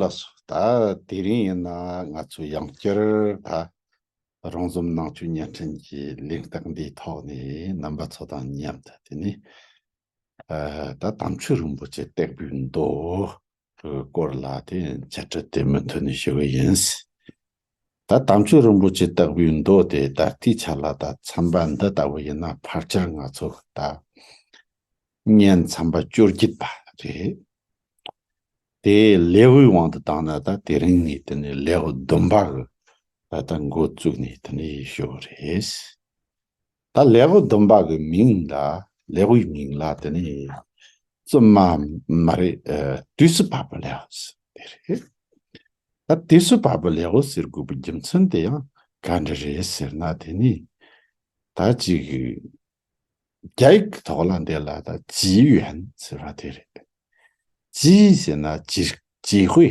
ལགས་སོ་ད་དེ་རིང་ཡིན་ན་ང་ཚོ་ཡང་བསྐྱར་ད་རང་འཛོམས་ནང་ཆོས་བརྙན་འཕྲིན་གྱི་ལེགས་སྟེགས་འདིའི་ཐོག་ནས་རྣམ་པ་ཚོ་དང་མཉམ་དུ་དེ་ནས་ད་དམ་ཆོས་རིན་པོ་ཆེ་སྟེགས་བུའི་མདོ་དེའི་སྐོར་ལ་དེ་བྱ་སྤྲེལ་དེ་མི་མཐུན་ནས་ཞུ་གི་ཡིན། ད་དམ་ཆོས་རིན་པོ་ཆེ་སྟེགས་བུའི་མདོ་དེ་ད་ལྟའི་ཆ་ལ་ད་འཚམས་པ་འདི་ལྟ་བུ་ཡིན་ན་ཕར་ཆེར་ང་ཚོ་ད་བརྙན་འཚམས་པ་བཅོ་བརྒྱད་པ་རེད། དེ་ལེ་ཝུའི་དབང་དུ་བཏང་ན་ད་དེ་རིང་ནས་དེ་ནས་ལེ་ཝུ་བདུན་པ་གི་ད་ད་འགོ་བཙུགས་ནས་དེ་ནས་ཞུ་གི་རེད། ད་ལེགས་པོ་སྡོམ་པ་གི་མིང་ལ་ལེགས་པོའི་མིང་ལ་དེ་ནས་བཙུན་མ་མ་རེད་དུས་སུ་བབ་པ་ལེགས་པོ་ཟེར་དེ་རེད། ད་དུས་སུ་བབ་པ་ལེགས་པོ་ཟེར་དགོས་པའི་རྒྱུ་མཚན་དེ་ཡང་ག་འདྲ་རེད་ཟེར་ན་དེ་ནི་ད་ཅིག་རྒྱ་ཡིག་གི་ཐོག་ལ་འདི་ལ་ད་ཇི་ཡོན་ཟེར་བ་དེ་རེད། ཇི་ཡིན་ཟེར་ན་ཇི་ཇི་ཧུའེ་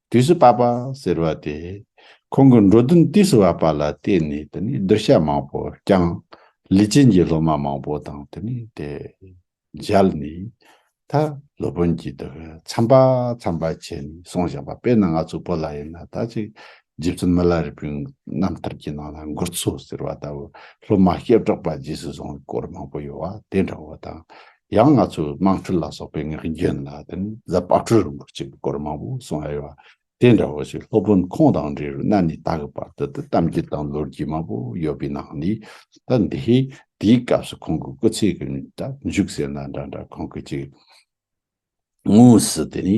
དུས་སུ་བབ་པ་ཟེར་བ་དེ་ཁོང་གི་འགྲོ་དོན་དུས་སུ་བབ་པ་ལ་བརྟེན་ནས་དེ་ནི་བསྡུར་བྱ་མང་པོ་བསྐྱངས། ལི་ཅན་གྱི་སློབ་མ་མང་པོ་དང་དེ་ནི་དེ་མཇལ་ནས། ད་སློབ་དཔོན་གྱིས་འདི་ག་འཚམ་པ་འཚམ་པ་བྱས་ནས་སོང་བཞག་པ་དཔེར་ན་ང་ཚོའི་བོད་ལ་ཡིན་ན་ད་ཅིག་རྗེ་བཙུན་མི་ལ་རི་པིན་རྣམ་ཐར་གྱི་ནང་ན་མགུར་ཚོ་ཟེར་བ་ལྟ་བུ་སློབ་མ་སྐྱེ་གྲོགས་པ་རྗེས་སུ་བཟུང་བའི་སྐོར་མང་པོ་ཡོད་བ་དེ་འདྲ་བོ་དང། ཡང་ང་ཚོས་དམངས་ཁྲོད་ལ་སོགས་པའི་ངག་རྒྱུན་ལ་དེ་ནི་གཟའ་པ་དྲོད་རུང་བར་བྱེད་པའི་སྐོར་མང་པོ་གསུང་ཨེ་ཡོད། དེ་འདྲ་བོ་ཞིག་སློབ་དཔོན་ཁོང་དང་འབྲེལ་བའི་གནའ་ནས་ད་གི་བར་དུ་དུ་གཏམ་རྒྱུད་དང་ལོ་རྒྱུས་མང་པོ་ཡོད་པའི་ནང་ནས་ད་འདིའི་དེའི་སྐབས་སུ་ཁོང་གི་སྐུ་ཚེ་གི་ནས་ད་མཇུག་ཟེར་ན་འདྲ་འདྲ་ཁོང་གི་ཅིག། དངོས་སུ་དེ་ནི་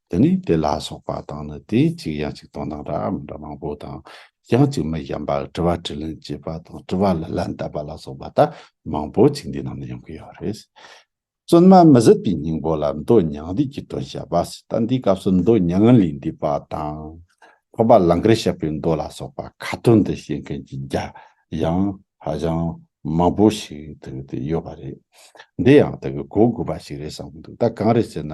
དེ་ནི་དེ་ལ་སོགས་པ་དང་ནི་དེའི་གཅིག་ཡང་གཅིག་དང་དང་འདྲ་འམ་འདྲ་མང་པོ་དང། ཡང་གཅིག་མི་གཞན་པ་དྲི་བ་དྲི་ལན་བྱེད་པ་དང་དྲི་བ་ལ་ལན་བཏབ་པ་ལ་སོགས་པ་ལྟ་མང་པོ་གཅིག་འདི་རྣམས་ནི་ཡོང་གི་ཡོད་རེད། བཙུན་མ་མི་ཟིད་པའི་སྙིང་པོ་ལ་མདོ་མྱང་འདས་ཀྱི་དོན་བཤད་པ། ད་འདིའི་སྐབས་སུ་མདོ་མྱང་ལས་འདས་པ་དང། འཕགས་པ་ལང་ཀར་བཤད་པའི་མདོ་ལ་སོགས་པ་ཁ་ཏོན་འདི་བཤད་མཁན་གྱི་རྒྱ་ཡང་ཧ་ཅང་མང་པོ་ཞིག་དེ་གི་དེ་ཡོད་པ་རེད། འདི་ཡང་དེ་གི་གོ་དགོས་པ་ཞིག་རེད་བསམ་གི་འདུག་ད་གང་རེད་ཟེར་ན།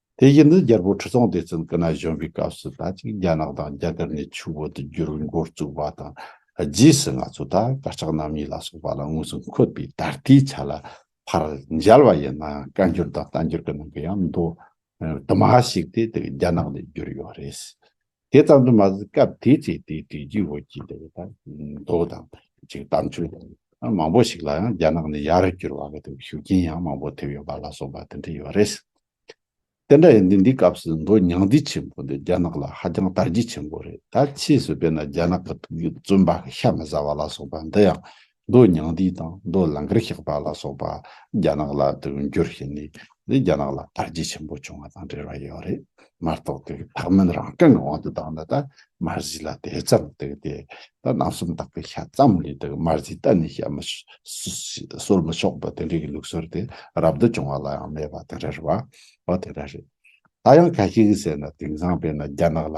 དེ་བཞིན་དུ་རྒྱལ་པོ་ཁྲི་སྲོང་ལྡེ་བཙན་སྐུ་ན་གཞོན་པའི་སྐབས་སུ་ད་ཅིག་རྒྱ་ནག་དང་རྒྱ་གར་གཉིས་ཆུ་བོ་དུ་འགྱུར་བའི་འགོ་བཙུགས་པ་དང་རྗེས་སུ་ང་ཚོ་ད་གར་ལྕགས་ནག་མི་ལ་སོགས་པ་ལ་དངོས་སུ་འཁོད་པའི་ད་ལྟའི་ཆ་ལ་ཕར་མཇལ་བ་ཡིན་ན་བཀའ་འགྱུར་དང་གཏམ་འགྱུར་གྱི་ནང་གི་ཡང་མདོ་དུ་མ་ཞིག་དེ་དག་རྒྱ་ནག་ནས་བསྒྱུར་ཡོད་རེད། དེ་ཙམ་དུ་མ་ཟད་སྐབས་དེའི་ཚེ་དེའི་དུས་རྒྱུན་བོད་ཀྱི་འདི་ལྟར་མདོ་དང་གཅིག་གཏམ་ཆོས་དང་མང་པོ་ཞིག་ལ་ཡང་རྒྱ་ནག་ནས་ཡར་བསྐྱུར་བ་གཏོགས་ཤུགས་རྐྱེན་ཡང་མང་པོ་ཐེབས་ཡོད་པ་ལ་སོགས་པ་དེ་འདྲ་ཡོད་རེད། དེ་འདྲ་ཡིན་དུས་འདི་སྐབས་སུ་མདོ་ཉང་བསྡུས་ཆེན་པོ་འདི་རྒྱ་ནག་ལ་ཧ་ཅང་དར་རྒྱས་ཆེན་པོ་རེད་ད་ཕྱིས་སུ་དཔེར་ན་རྒྱ་ནག་གི་ཐུགས་རྒྱུད་བཙུན་པ་ཤ་མི་ཟ་བ་ལ་སོགས་པ་འདི་ཡང་མདོ་ཉང་བསྡུས་དང་མདོ་ལང་ཀར་བཤགས་པ་ལ་སོགས་པ་རྒྱ་ནག་ལ་དོན་བསྒྱུར་བྱས་ནས་འདི་རྒྱ་ནག་ལ་དར་རྒྱས་ཆེན་པོ་བྱུང་བ་དང་འབྲེལ་བ་ཡོད་རེད་མ་གཏོགས་དེ་གི་ཕག་མོན་རང་སྐྱོང་གི་དབང་དུ་བཏང་ན་ད་མར་གཟིགས་ལ་དེ་ཙམ་དེ་དེ་ད་ནང་སུམ་རྟགས་པའི་ཤ་ཙམ་ལས་དེ་གི་མར་གཟིགས་གཏན་ནས་བཤད་མི་གསོལ་མི་ཆོག་པ་དེ་འདྲའི་གི་ལུགས་སྲོལ་དེ་རབ་ཏུ་བྱུང་བ་ལ་ཡང་མེད་པ་དེ་འདྲ་རེད་བ་དེ་འདྲ་རེད། ད་ཡང་གལ་ཆེ་གི་ཟེར་ན་དེང་སང་བས་ན་རྒྱ་ནག་ལ་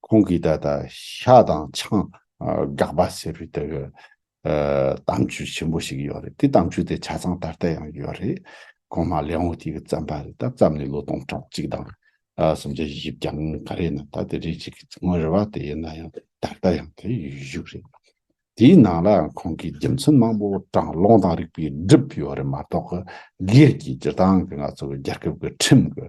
ཁོང་གིས་ད་ལྟ་ཤ་དང་ཆང་དགག་པ་ཟེར་བའི་དེ་གི་གཏམ་རྒྱུད་ཆེན་པོ་ཞིག་ཡོད་རེད་དེ་གཏམ་རྒྱུད་དེ་ཆ་ཚང་ད་ལྟ་ཡང་ཡོད་རེད་ཁོང་མ་ལེའོ་ཏི་གིས་བརྩམས་པ་རེད་ད་བརྩམས་ནས་ལོ་སྟོང་ཕྲག་གཅིག་དང་སུམ་བརྒྱ་བཞི་བརྒྱ་ག་རེ་ན་ད་དེ་རེད་ཅིག་ངོ་རེ་བ་དེ་ཡིན་ན་ཡང་ད་ལྟ་ཡང་དེ་ཡོད་རེད། དེའི་ནང་ལའང་ཁོང་གི་རྒྱུ་མཚན་མང་པོ་གྲང་སློང་དང་རིགས་པས་བསྒྲིབས་ཡོད་རེད་མ་གཏོགས་སྒེར་གྱི་སྤྱིར་བཏང་གི་ང་ཚོ་གི་རྒྱལ་ཁབ་ཀྱི་ཁྲིམས་ཀྱི་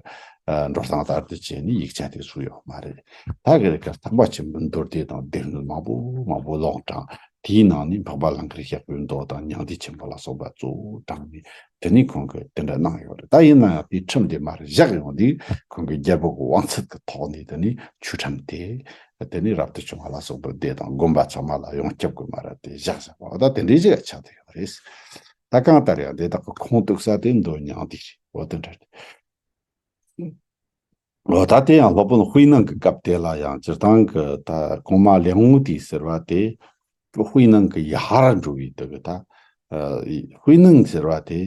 འགྲོ་སྟངས་ལྟར་དུ་བྱས་ནས་ཡིག་ཆ་དེ་བཟོས་ཡོད་མ་རེད། ད་གི་རེ་ཁར་ཐག་པ་ཆེན་པོའི་མདོར་བསྡུས་དང་སྡེབ་སྣོན་མང་པོ་མང་པོ་ལོག་དྲངས་དེའི་ནང་ནས་འཕགས་པ་ལང་ཀར་ཞབས་པོའི་མདོ་དང་མྱང་འདས་ཆེན་པོ་ལ་སོགས་པ་གཙོ་བོ་དྲངས་ནས་དེ་ནི་ཁོང་གིས་དེ་འདྲ་གནང་ཡོད་རེད་ད་ཡིན་ན་ཡང་དེའི་ཁྲིམས་དེ་མར་བཞག་ཡོང་དུས་ཁོང་གིས་རྒྱལ་པོ་གི་བང་ཚད་ཀྱི་ཐོག་ནས་དེ་ནི་ཆོས་ཁྲིམས་དེ་དེ་ནི་རབ་ཏུ་བྱུང་བ་ལ་སོགས་པའི་སྡེ་དང་དགོན་པ་ཚང་མ་ལ་ཡང་སྐྱབས་དགོས་མ་རེད་དེ་བཞག་བཞག་པ་འོ་ད་དེ་འདྲའི་གཞི་ལ་ཆགས་དུས་ཡོད་རེད། ད་གང་ལྟར་ཡང་དེ་དག་གི་ཁོངས་གཏུགས་ས་དེ་འདོན་མྱངས་དུས་རེད་འོ་དེ་འདྲ་རེད། ལོ་ཟླ་དེ་ཡང་སློབ་དཔོན་དབུས་གནང་གི་སྐབས་དེ་ལ་ཡང་སྤྱིར་བཏང་གི་ད་གོང་མ་ལེགས་ངོ་དེ་ཟེར་བ་དེ། དབུས་གནང་གི་ཡ་ཧར་འགྲོ་བའི་དུས་ཀྱི་ད། དབུས་གནང་ཟེར་བ་དེ།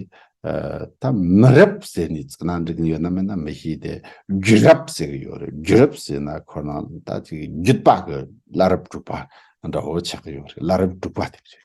ད་མི་རབས་ཟེར་ནས་ཚིག་ནང་འབྲི་གིན་ཡོད་ན་མེད་ན་མི་ཤེས་དེ། རྒྱུད་རབས་ཟེར་གི་ཡོད་རེད་རྒྱུད་རབས་ཟེར་ན་ཁོ་ན་ད་ཅིག་རྒྱུད་པ་གི་བླ་རབས་གྲུབ་པ་འདྲ་བོ་ཆགས་ཀྱི་ཡོད་རེད་བླ་རབས་གྲུབ་པ་དེ་རེད།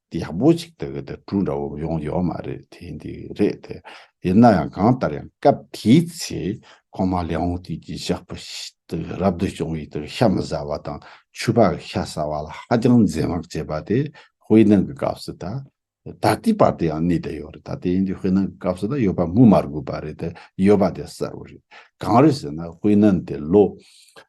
ཡག་པོ་ཞིག་དག་གི་དེ་དྲུག་འདྲ་བོ་ཡོང་ཡོད་མ་རེད་དེ་འདི་རེད་དེ་ཡིན་ན་ཡང་གང་ལྟར་ཡང་སྐབས་དེའི་ཚེ་ཁོང་མ་ལེའོ་ཧུང་ཏི་ཀྱི་ཞགས་པ་དག་རབ་ཏུ་བྱུང་བའི་དག་ཤ་མི་ཟ་བ་དང་ཆུ་བག་ཤ་ཟ་བ་ལ་ཧ་ཅང་འཛེམ་བག་བྱེད་པ་དེ་ཧུའེ་ནང་གི་སྐབས་སུ་ད་ད་ལྟའི་བར་དུ་ཡང་གནས་དེ་ཡོད་རེད་ད་དེ་འདི་ཧུའེ་ནང་གི་སྐབས་སུ་ད་ཡོད་པ་སྨོས་མ་དགོས་པ་རེད་དེ་ཡོད་པ་དེ་གསལ་བོ་རེད་གང་རེད་ཟེར་ན་ཧུའེ་ནང་དེ་ལོ་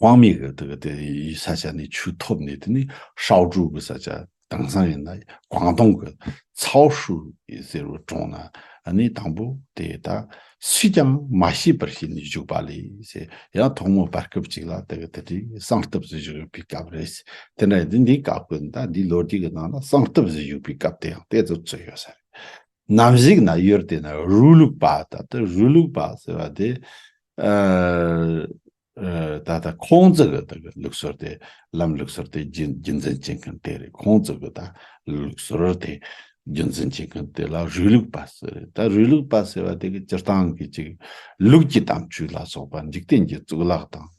དབང་མེད་ཀྱི་དེ་གི་དེ་ཡི་ས་ཆ་ནས་ཆུ་ཐོབ་ནས་དེ་ནི་ཧྲའོ་ཀྲུའུ་གི་ས་ཆ་དེང་སང་ཡིན་ན་ཀོང་ཏུང་གི་ཚའོ་ཧྲུའུ་ཡི་ཟེར་བའི་གྲོང་ན་ནི་དང་པོ་དེ་ད་སུས་ཀྱང་མ་ཤེས་པར་ཤི་ནས་བཞུགས་པ་ལས་ཡང་ཐོག་མའི་བར་སྐབས་ཅིག་ལ་དེ་གི་དེ་དེའི་གསང་སྟབས་སུ་བཞུགས་ཡོད་པའི་སྐབས་རེད། དེ་འདྲ་ཡིན་དུས་འདིའི་སྐབས་ཀྱི་ད་འདིའི་ལོ་རྒྱུས་ཀྱི་ནང་ན་གསང་སྟབས་སུ་བཞུགས་པའི་སྐབས་དེ་ཡང་དེ་ཚོར་ཚུད་ཡོད་ས་རེད། ནམ་གཟིགས་ན་གཡོར་དེ་ན་རུའུ་ལུག་པ་ད་ལྟ་རུའུ་ལུག་པ་ཟེར་བ་དེ། ད་ལྟ་ཁོང་ཚོ་གི་དེ་གི་ལུགས་སྲོལ་དེ་ལམ་ལུགས་སྲོལ་དེ་རྒྱུན་རྒྱུན་འཛིན་བྱེད་མཁན་དེ་རེད་ཁོང་ཚོ་གི་ད་ལུགས་སྲོལ་དེ་རྒྱུན་འཛིན་བྱེད་མཁན་དེ་ལ་རུའུ་ལུག་པ་ཟེར་རེད་ད་རུའུ་ལུག་པ་ཟེར་བ་དེ་གི་སྤྱིར་བཏང་གི་ཅིག་ལུགས་ཀྱི་དམ་ཆོས་ལ་སོགས་པ་འཇིག་རྟེན་གྱི་གཙུག་ལག་དང།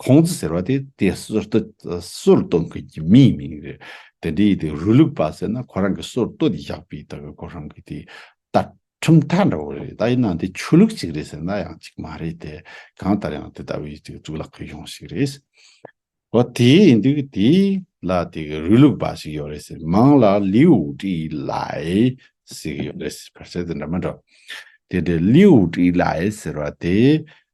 ཁོང་ཙི་ཟེར་བ་དེ་དེ་སོར་ཏོ་སོར་གཏོད་མཁན་གྱི་མིའི་མིང་རེད། དེ་འདྲའི་དེ་རུ་ལུག་པ་ཟེར་ན་ཁོ་རང་གི་སོར་ཏོ་དེ་བཞག་པའི་ད་གི་ཁོ་རང་གི་དེ་ད་ཁྲིམས་མཐའ་འདྲ་བོ་རེད་ད་ཡིན་ནའང་དེ་ཆོས་ལུགས་ཅིག་རེད་ཟེར་ན་ཡང་ཅིག་མ་རེད་དེ་གང་ལྟར་ཡང་དེ་ལྟ་བུའི་དེ་གཙུག་ལག་ཁང་གཞུང་ཞིག་རེད། ཨོ་དེ་ཡིན་དུས་དེ་ལ་དེ་གི་རུ་ལུག་པ་ཞིག་ཡོད་རེད་ཟེར་མང་ལ་ལིའུ་ཀྲི་ལའེ་ཟེར་གི་ཡོད་རེད་ཟེར་ཕར་ཆེར་དེ་འདྲ་མི་འདྲ། དེ་འདྲའི་ལིའུ་ཀྲི་ལའེ་ཟེར་བ་དེ་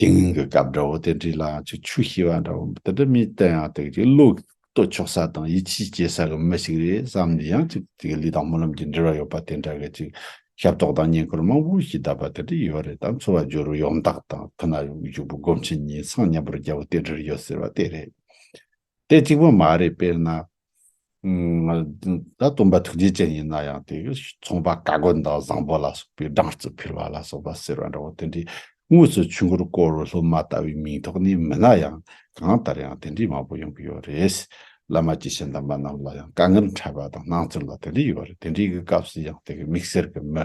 དེང་གི་སྐབས་དགྲ་བོ་དེ་འདྲའི་ལག་གཅིག་ཆུ་ཤེལ་བ་འདྲ་བོ་དེ་འདྲ་མིན་དེ་ཡང་དེ་གའི་བློས་བསྟོད་ཆོག་ས་དང་ཡིད་ཆེས་བསྐྱེད་ས་གི་མི་ཞིག་རེད་བསམ་ནས་ཡང་གཅིག་དེ་གའི་ལུས་དང་སྨོན་ལམ་གྱི་འབྲེལ་བ་ཡོད་པ་དེ་འདྲ་གི་ཅིག་ཞབས་ཏོག་དང་བསྙེན་བཀུར་མང་པོ་ཞིག་གདབ་པ་དེ་འདྲ་ཡོད་རེད་དམ་འཚོ་བ་སྦྱོར་བའི་ཡོངས་བདག་དང་ཐུགས་ན་བཞུགས་པའི་སྒོམ་ཆེན་གཉིས་སངས་མཉམ་པོར་རྒྱལ་པོ་དེ་འདྲར་ཡོད་ཟེར་བ་དེ་རེད་དེ་གཅིག་པོ་མ་རེད་དཔེར་ན། ད་སྟོན་པ་ཐུགས་རྗེ་ཅན་ཡིན་ན་ཡང་དེ་ཚོང་པ་བཀའ་བསྒོ་དང་བཟང་པོ་ལ་སོགས་པའི་སྦྲང་རྩི་ཕུལ་བ་ལ་སོགས་པ་ཟེར་བ་འདྲ་བོ་དེ་འདྲའི་དངོས་སུ་ཆུ་མགོར་བསྐོར་བའི་སློབ་མ་ལྟ་བུའི་མིང་ཐོགས་ནས་མིན་ན་ཡང་གང་ལྟར་ཡང་དེ་འདྲའི་མང་པོ་ཡོང་གི་ཡོད་རེད། བླ་མ་ཀྱི་ཞལ་གདམས་པ་རྣམས་ལ་ཡང་དཀའ་ངལ་འཕྲད་པ་དང་སྣང་ཚུལ་ལ་དེ་འདྲ་ཡོད་རེད་དེ་འདྲའི་གི་སྐབས་སུ་ཡང་དེ་གི་མིག་སེར་གི་མི་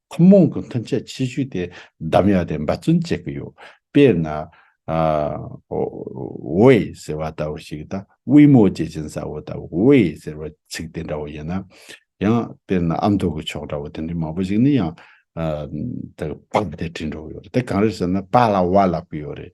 ཐུན་མོང་གི་མཐུན་རྐྱེན་ཆེ་ཤོས་དེ་འདམ་ཡག་དེ་འབད་བརྩོན་བྱེད་ཀྱི་ཡོད། དཔེར་ན། ཝེ་ཟེར་བ་ལྟ་བུ་ཞིག་དང་དབུས་མོ་བཅས་ཅན་ས་བོ་ལྟ་བུ་ཝེ་ཟེར་བ་ཚིག་དེ་འདྲ་བོ་ཡིན་ན། ཡང་དཔེར་ན་ཨ་མདོ་གི་ཕྱོགས་འདྲ་བོ་དེ་འདྲའི་མང་པོ་ཞིག་ནི་ཡང། པགས་དེ་བྲིས་འགྲོ་གི་ཡོད་རེད་དེ་གང་རེད་ཟེར་ན་པགས་ལ་བ་ལབ་ཀྱི་ཡོད་རེད།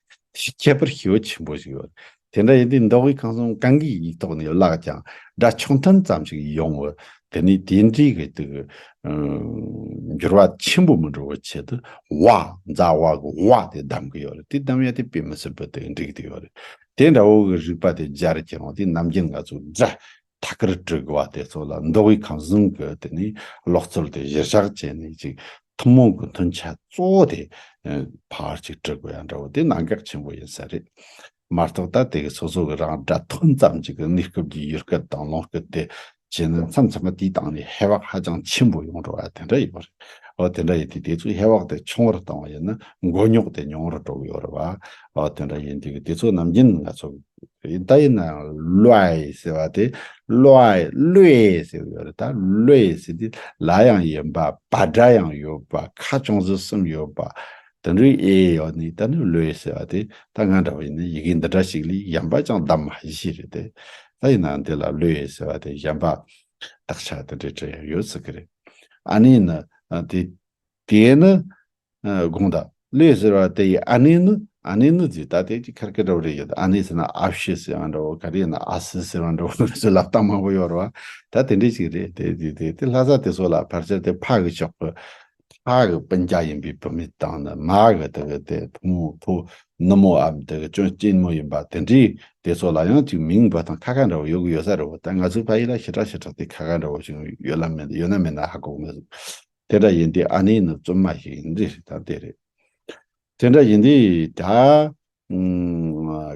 དེའི་ཁྱད་པར་ཤེས་པ་ཆེན་པོ་ཞིག་ཡོད། དེ་འདྲ་ཡིན་དུས་མདོ་དབུས་ཁམས་གསུམ་གང་གི་ཡིག་ཐོག་ནས་བཀླགས་ཀྱང་སྒྲ་ཆུང་མཐོན་ཙམ་ཞིག་ཡོང་བས་དེ་ནི་དེ་འདྲའི་གི་དུ། འགྱུར་བ་ཆེན་པོ་མི་འགྲོ་བའི་ཆེད་དུ་བ། འཛག་བ་གི་བ་དེ་བསྡམས་ཀྱི་ཡོད་རེད། དེ་བསྡམས་ཡང་དེ་དཔེ་མི་སྲིད་པའི་སྟེང་འགྲིག་དུ་ཡོད་རེད། དེ་འདྲ་བོ་གི་རིགས་པ་དེ་སྦྱར་ཀྱང་དེ་རྣམ་རྒྱལ་འགའ་ཚོས་སྒྲ་ཐད་ཀར་སྤྲོད་དགོས་པ་དེ་ཚོ་ལ་འདོད་དབུས་ཁམས་གཞུང་གི་དེ་ནས་ལོག་རྩོལ་དེ་གཞིར་བཞག་བྱས་ནས་ཅིག་ཐུན་མོང་གི་མཐུན་ཆ་གཙོ་བོ་དེ་ཕར་ཅིག་སྤྲོད་དགོས་ཡ་འདྲ་བོ་དེ་གནད་འགག་ཆེན་པོ་ཡིན་ས་རེད། མ་གཏོགས་ད་དེ་གི་སོ་སོ་གི་རང་སྒྲ་ཐོན་ཙམ་གྱི་གི་གནས་སྐབས་ཀྱི་ཡུལ་སྐད་དང་ལུང་སྐད་དེ་བྱས་ན་མཚམས་མཚམས་པ་དེའི་སྟེང་ནས་ཧེ་བག་ཧ་ཅང་ཆེན་པོ་ཡོང་འགྲོ་བ་དེ་འདྲ་ཡོད་རེད། འོ་དེ་འདྲ་ཡིན་དུས་དེ་ཚོའི་ཧེ་བག་དེ་ཆུང་བར་བཏང་བ་ཡིན་ན་མགོ་རྙོག་དེ་ཉུང་བར་འགྲོ་གི་ཡོད་རེད་བ། འོ་དེ་འདྲ་ཡིན་དུས་དེ་ཚོ་ནམ་རྒྱུན་ང་ཚོ་གི། ཡིན་ད་ཡིན་ན་ལོའི་ཟེར་བ་དེ་ལོའི་ལོའི་ཟེར་བ་ཡོད་ད་ལོའི་ཟེར་དེ་ལ་ཡང་ཡིན་པ་བ་སྒྲ་ཡང་ཡོད་པ་ཁ་ཅུང་ཟད་གསུམ་ཡོད་པ་དེ་འདྲའི་ཨེ་ཡོད་ནི་ད་ནི་ལོའི་ཟེར་བ་དེ་ད་ང་འདྲ་བ་ཡིན་ན་ཡི་གེ་འདི་འདྲ་ཞིག་ལས་གཞན་པ་ཅང་བདམས་མ་ཤེས་རེད་དེ་ད་ཡིན་ན་འདི་ལ་ལོའི་ཟེར་བ་དེ་གཞན་པ་དག་ཆ་དེ་འདྲའི་གྲས་ཡོད་སྲིད་གི་རེད་ཨ་ནི་ནི་དེ། དེས་ན། དགོངས་དག། ལོས་ཟེར་བ་དེ་ཡི་ཨ་ནེ་ནི་ཨ་ནེ་ནི་ཛི་ད་ཏའི་ཀྱི་ཁར་ཀི་འདྲ་བོ་རེ་ཡོད་ཨ་ནེ་ཟེར་ན་ཨ་བྷྱི་ཟེར་བ་འདྲ་བོ་ག་རེ་ན་ཨ་སི་ཟེར་བ་འདྲ་བོ་རེ་ཟེར་ལབ་སྟངས་མང་པོ་ཡོད་རེད་བ་ད་དེ་འདྲས་ཅིག་རེད་དེ་དེ་དེ་དེ་ལྷ་ས་དེ་ཚོ་ལ་ཕར་ཆེར་དེ་ཕ་གི་ཕྱོགས་ཀི་ཕ་གི་སྤུན་རྒྱ་ཡིན་པའི་བུད་མེད་དང་ནི་མ་གི་དེ་གི་དེ་བུ་མོ་བུ་ནུ་མོ་འམ་དེ་གི་སྐྱོན་སྐྱེན་མོ་ཡིན་པ་དེ་འདྲས་དེ་ཚོ་ལ་ཡང་ཅིག་མིང་འབོད་སྟངས་ཁ་ཁ་འདྲ་བོ་ཡོད་གི་ཡོད་ས་རེད་བ་ད་ང་ཚོའི་ཕ་ཡི་ལ་ཞི་དྲག་ཞི་དྲག་དེ་ཁ་ཁ་འདྲ་བོ་ཅིག་ཡོད་ལ་མེད་ན་ཡོད་ན་མེད་ན་ཧ་གོ་གི་མེད་དེ་འདྲ་ཡིན་དུས་ཨ་ནེ་ནི་བཙུན་མ་ཞིག་ཡིན་རྒྱུ་ཞིག་དང་དེ་རེད། དེ་འདྲ་ཡིན་དུས་ད།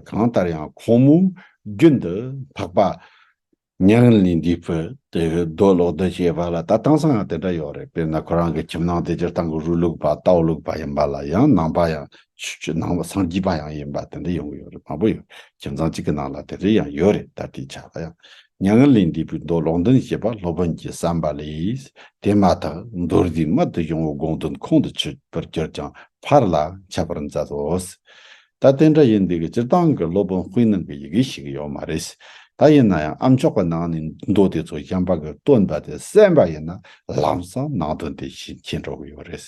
གང་ལྟར་ཡང་ཁོང་མོས་རྒྱུན་དུ་འཕགས་པ། ཉང་རིང་ལས་འདས་པོ་དེ་རྡོ་སློག་རྡོ་བྱེད་པ་ལ་ད་གཏང་སའང་དེ་འདྲ་ཡོད་རེད་དཔེར་ན་ཁོ་རང་གི་ཁྱིམ་ནང་དེ་སྤྱིར་བཏང་གི་རུས་ལུག་པ་རྟའུ་ལུག་པ་ཡིན་པ་ལ་ཡང་ནང་པ་ཡང། སངས་རྒྱས་པ་ཡང་ཡིན་པ་དེ་འདྲ་ཡོང་གི་ཡོད་རེད་མང་པོ་ཡོད་རེད་ཁྱིམ་ཚང་གཅིག་གི་ནང་ལ་དེ་འདྲ་ཡང་ཡོད་རེད་ད་ལྟའི་ཆ་ལ་ཡང་མྱ་ངན་ལས་འདས་པའི་མདོ་ལུང་བདུན་ཞེས་པ་སློབ་དཔོན་གྱིས་བསམས་པ་ལས། དེ་མ་ཐག་མདོར་བསྡུས་མར་དུ་ཡོང་བའི་དགོངས་དོན་ཁོང་དུ་ཆུད་པར་གྱུར་ཀྱང་ཕར་ལ་འཆད་པར་མཛད་དོ། ད་དེ་འདྲ་ཡིན་འདུག་གི་སྤྱིར་བཏང་གི་སློབ་དཔོན་དཔེ་རྣམས་ཀྱི་ཡི་གེ་ཞིག་ཡོད་མ་རེད། ད་ཡིན་ན་ཡང་ཨ་མཆོག་གི་ནང་ནས་མདོ་དེ་ཚོ་གཞན་པ་གིས་བཏོན་པ་དེ་གསན་པ་ཡིན་ན་ལམ་སང་ནང་དོན་དེ་བཞིན་མཁྱེན་འགྲོ་གི་ཡོད་རེད།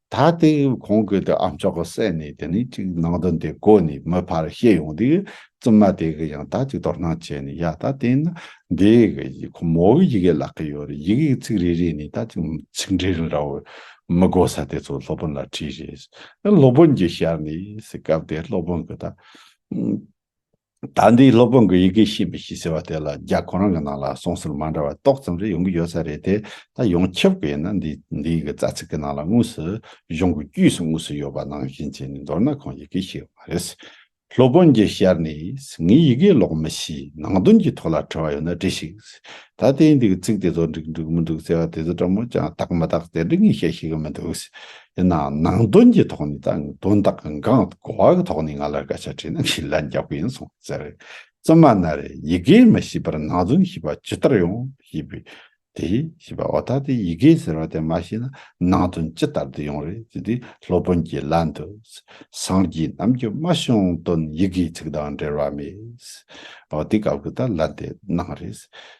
ད་ལྟའི་གོང་གི་དེ་ཨམ་ཅོག་གི་གསལ་གནས་དེ་ནི་གཅིག་ནང་དོན་དེ་གོ་ནས་མི་ཕར་བཤད་ཡོང་དུས་བཙུན་མ་དེ་གི་ཡང་དག་ཅིག་དོར་སྣང་བྱས་ནས་ཡ་ད་དེ་ན་འདི་གི་ཁོ་མོ་གི་ཡི་གེ་ལག་གི་ཡོད་རེད་ཡི་གེ་གི་ཚིག་རེ་རེ་ནས་ད་ཅིག་ཚིག་འབྲེལ་རིང་ར་བའི་མི་གོ་ས་དེ་ཚོ་སློབ་དཔོན་ལ་དྲིས་རེད་སློབ་དཔོན་གྱིས་ཤར་ནས་སྐབས་དེར་སློབ་དཔོན་གི་ད། ད་འདིའི་སློབ་དཔོན་གྱི་ཡི་གེ་ཤེས་མི་ཤེས་ཟེར་བ་དེ་ལ་རྒྱ་གོ་རང་གི་ནང་ལ་གསུང་ཟུར་མ་འདྲ་བ་ཏོག་ཙམ་རེ་ཡོང་གི་ཡོད་ས་རེད་དེ་ད་ཡོང་ཁྱབ་གི་ཡིན་ན་འདིའི་འདིའི་གི་རྩ་ཚིག་གི་ནང་ལ་དངོས་སུ་གཞུང་གི་དཀྱུས་སུ་དངོས་སུ་ཡོད་པ་ནང་བཞིན་བྱས་ནས་མདོར་ན་ཁོང་ཡི་གེ་ཤེས་ཡོད་མ་རེད། སློབ་དཔོན་གྱིས་བཤར་ནས་ངས་ཡི་གེ་ཀློག་མི་ཤེས་ནང་དོན་གྱི་ཐོག་ལ་དྲི་བ་ཡོད་ན་དྲི་ཞིག་ད་དེའི་འདི་གི་ཚིག་དེ་ཚོ་འགྲིག་འགྲིག་མི་འགྲིག་ཟེར་བ་དེ་ཚོ་ཕྲ་མོ་ཅང་བརྟག་མི་བརྟག་དེ་འདྲི་ངས་བཤད་ཤེས་གི་མི་འདུག། ཡིན་ནའང་ནང་དོན་གྱི་ཐོག་ནས་དང་དོན་དག་གི་འགངས་དང་གོ་བ་གི་ཐོག་ནས་ང་ལ་སྐད་ཆ་དྲིས་ན་ངས་ལན་རྒྱག་པ་ཡིན་སོང་ཟེར། བཙུན་མ་ན་རེ་ཡི་གེ་མི་ཤེས་པར་ནང་དོན་ཤེས་པ་ཇི་ལྟར་ཡོང་ཞེས་པས། དེས་ཤེས་པ་འོ་ད་ལྟའི་ཡི་གེ་ཟེར་བ་དེ་མ་ཤེས་ན་ནང་དོན་ཇི་ལྟར་དུ་ཡོང་རེད་ཅེས་དེས་སློབ་དཔོན་གྱི་ལན་དུ། སངས་རྒྱས་རྣམས་ཀྱི་སྨྲ་བྱུང་དོན་ཡི་གེའི་ཚིག་དང་འབྲེལ་བ་མེད། འོ་དེ་སྐབས་ཀྱི་ད་ལན་དེ་སྣང་རེད།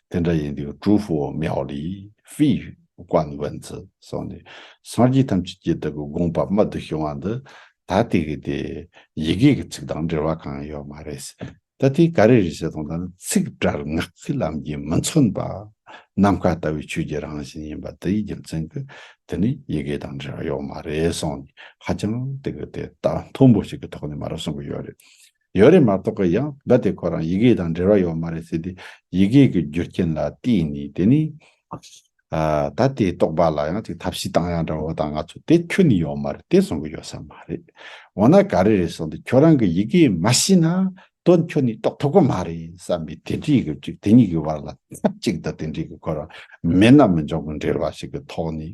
དེ་འདྲ་ཡིན་དུས་ཀྲུའུ་ཧྥུའོ་མེའོ་ལིས་ཧྥེའི། བཀའ་བོན་ཚུལ་གསུངས་ནས་སངས་རྒྱས་ཐམས་ཅད་ཀྱི་བདག་གི་དགོངས་པ་རྨད་དུ་བྱུང་བ་འདི་ད་ལྟའི་གི་དེ་ཡི་གེ་གི་ཚིག་དང་འབྲེལ་བ་གང་ཡོད་མ་རེད། ད་ལྟའི་ག་རེ་རེད་བྱས་དང་ད་ནི་ཚིག་སྒྲར་ངག་གི་ལམ་གྱིས་མི་མཚོན་པ། ནམ་མཁའ་ལྟ་བུའི་ཆོས་ཀྱི་རང་བཞིན་ཡིན་པ་འདི་ཡི་རྒྱུ་མཚན་གི་དེ་ནི་ཡི་གེ་དང་འབྲེལ་བ་ཡོད་མ་རེད་གསུངས་ནས་ཧ་ཅང་དེ་གི་དེ་ལྟ་མཐོན་པོ་ཞིག་གི་ཐོག་ནས་མ་རེད་གསུངས་གི་ཡོད་རེད། ཡོད་རེད་མ་གཏོགས་ཀི་ཡང་འབའ་དེ་ཁོ་རང་ཡི་གེ་དང་འབྲེལ་བ་ཡོད་མ་རེད་ཟེར་དུས་ཡི་གེ་གི་རྒྱུ་རྐྱེན་ལ་བལྟས་ནས་དེ་ནི། ད་དེ་རྟོགས་པ་ལ་ཡང་ཅིག་ཐབས་ཤེས་བཏང་ཡང་འདྲ་བོ་དང་ང་ཚོ་དེ་ཁྱོད་ནི་ཡོད་མ་རེད་དེ་གསུང་གི་ཡོད་ས་མ་རེད། འོ་ན་ག་རེ་རེད་གསུང་དུས་ཁྱོད་རང་གི་ཡི་གེ་མ་ཤེས་ན་དོན་ཁྱོད་ནི་རྟོགས་ཐུབ་ཀི་མ་རེད་བསམ་པའི་དེ་འདྲའི་གི་ཅིག་དེ་གཉིས་ཀི་བར་ལ་ཐབས་ཅིག་དང་དེ་འདྲའི་གི་ཁོ་རང་མེད་ན་མི་འབྱུང་གི་འབྲེལ་བ་ཞིག་གི་ཐོག་ནས་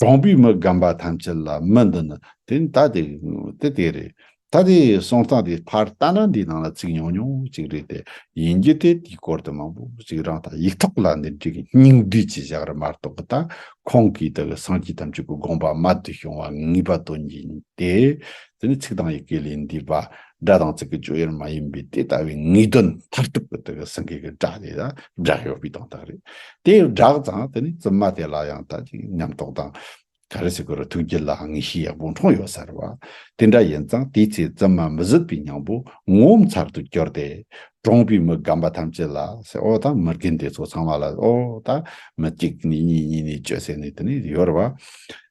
གྲོང་པའི་མི་རྒན་པ་ཐམས་ཅད་ལ་མི་འདི་ནི་དེ་ནི་ད་དེ་དེ་དེ་རེད་ད་དེ་སོང་སྟངས་དེ་ཕར་ལྟ་ན་འདིའི་ནང་ལ་ཚིག་ཉུང་ཉུང་ཅིག་རེད་དེ་ཡིན་རྒྱུ་དེ་དེའི་སྐོར་དུ་མང་པོ་ཅིག་རང་ད་ཡིག་ཐོག་ལ་འདི་འདྲའི་སྙིང་བསྡུས་ཀྱི་བཞག་རི་མ་གཏོགས་གི་ད་ཁོང་གིས་དེ་གི་སངས་རྒྱས་ཐམས་ཅད་ཀྱི་དགོངས་པ་མ་བསྡུས་བྱུང་བ་ངེས་པ་དོན་ཡིན་ཏེ། དེ་ནི་ཚིག་དང་ཡི་གེ་ལས་འདས་པ་སྒྲ་དང་ཚིག་གི་སྤྱོད་ཡུལ་མ་ཡིན་པའི་དེ་ལྟ་བུའི་ངེས་དོན་མཐར་ཐུག་གི་དེ་གི་སེང་གེ་གི་སྒྲ་དེ་དང་སྒྲ་ཡོད་པའི་དོན་དག་རེད། དེ་ཡང་སྒྲ་དང་དེ་ནི་བཙུན་མ་དེ་ལ་ཡང་དག་ཅིག་ཉམས་རྟོགས་དང། ག་རེ་སྲིད་ཀྱི་ཐུགས་རྒྱུད་ལ་ངེས་ཤེས་ཡག་པོ་འཁྲུངས་ཡོད་ཟེར་བ་དེ་འདྲ་ཡིན་ཙང་དེའི་ཚེ་བཙུན་མ་མི་བཟོད་པའི་སྙིང་པོ་ངོ་བོ་མཚར་དུ་གྱུར་ཏེ། གྲོངས་པའི་མི་རྒན་པ་ཐམས་ཅད་ལ་ཟེར་ཨོ་ད་མི་རྒན་དེ་ཚོ་ཚང་མ་ལ་ཨོ་ད་མི་གཅིག་ནས་གཉིས་གཉིས་ནས་བཅུ་ཟེར་ནས་དེ་ནས་ཡོད་རེད་བ།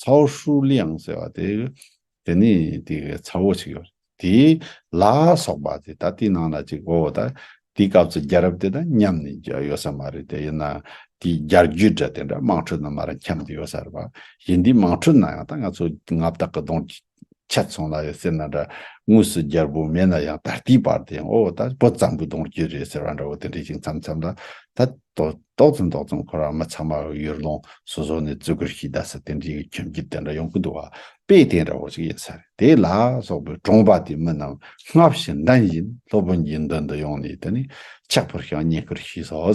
ཚའོ་ཧྲུའུ་ལིའང་ཟེར་བ་དེ་དེ་ནི་དེ་གའི་ཚ་བོ་ཞིག་ཡོད་དེ། ལ་སོགས་པ་དེ་ད་དེའི་ནང་ལ་ཅིག་གོ་ད་དེའི་སྐབས་སུ་རྒྱལ་རབས་དེ་དང་མཉམ་ནས་ཡོད་ས་མ་རེད་དེ་དབྱིན་ན་དེའི་རྒྱལ་རྒྱུད་འདྲ་དེ་འདྲ་དམངས་ཁྲོད་ནང་མ་རང་འཁྱམས་དེ་ཡོད་ས་རེད་པ་ཡིན་དེའི་དམངས་ཁྲོད་ནང་ཡང་ད་ང་ཚོ་ང་བདག་གི་གདོང་ཆ་ཚང་ལ་ཡོད་ཟེར་ན་འདྲ། དངོས་སུ་རྒྱལ་པོ་མེད་ན་ཡང་ད་ལྟའི་བར་དེ་ཡང་ཨོ་ད་བོད་གཙང་པོའི་གདོང་རྒྱུད་རེད་ཟེར་བ་འདྲ་བོ་དེ་འདྲའི་ཞིག་མཚམས་མཚམས་ལ་ད་ཏོག་ཏོག་ཙམ་ཏོག་ཙམ་ཁོ་རང་མི་ཚང་མ་ཡུལ་ལུང་སོ་སོ་ནས་བཙོད་གུར་ཞིག་བདའ་ས་དེ་འདྲའི་ཁྱིམ་རྒྱུད་དེ་འདྲ་ཡོང་གི་འདུག་བ་དཔེ་དེ་འདྲ་བོ་ཞིག་ཡིན་ས་རེད་དེ་ལ་སོགས་པའི་གྲོང་པ་དེའི་མི་རྣམས་སྔ་བཞིན་འདྲ་བཞིན་སློབ་དཔོན་གྱི་མདུན་དུ་ཡོང་ནས་དེ་ནས་ཕྱག་ཕུར་ཞིང་བསྙེན་བཀུར་ཞུས་སོ།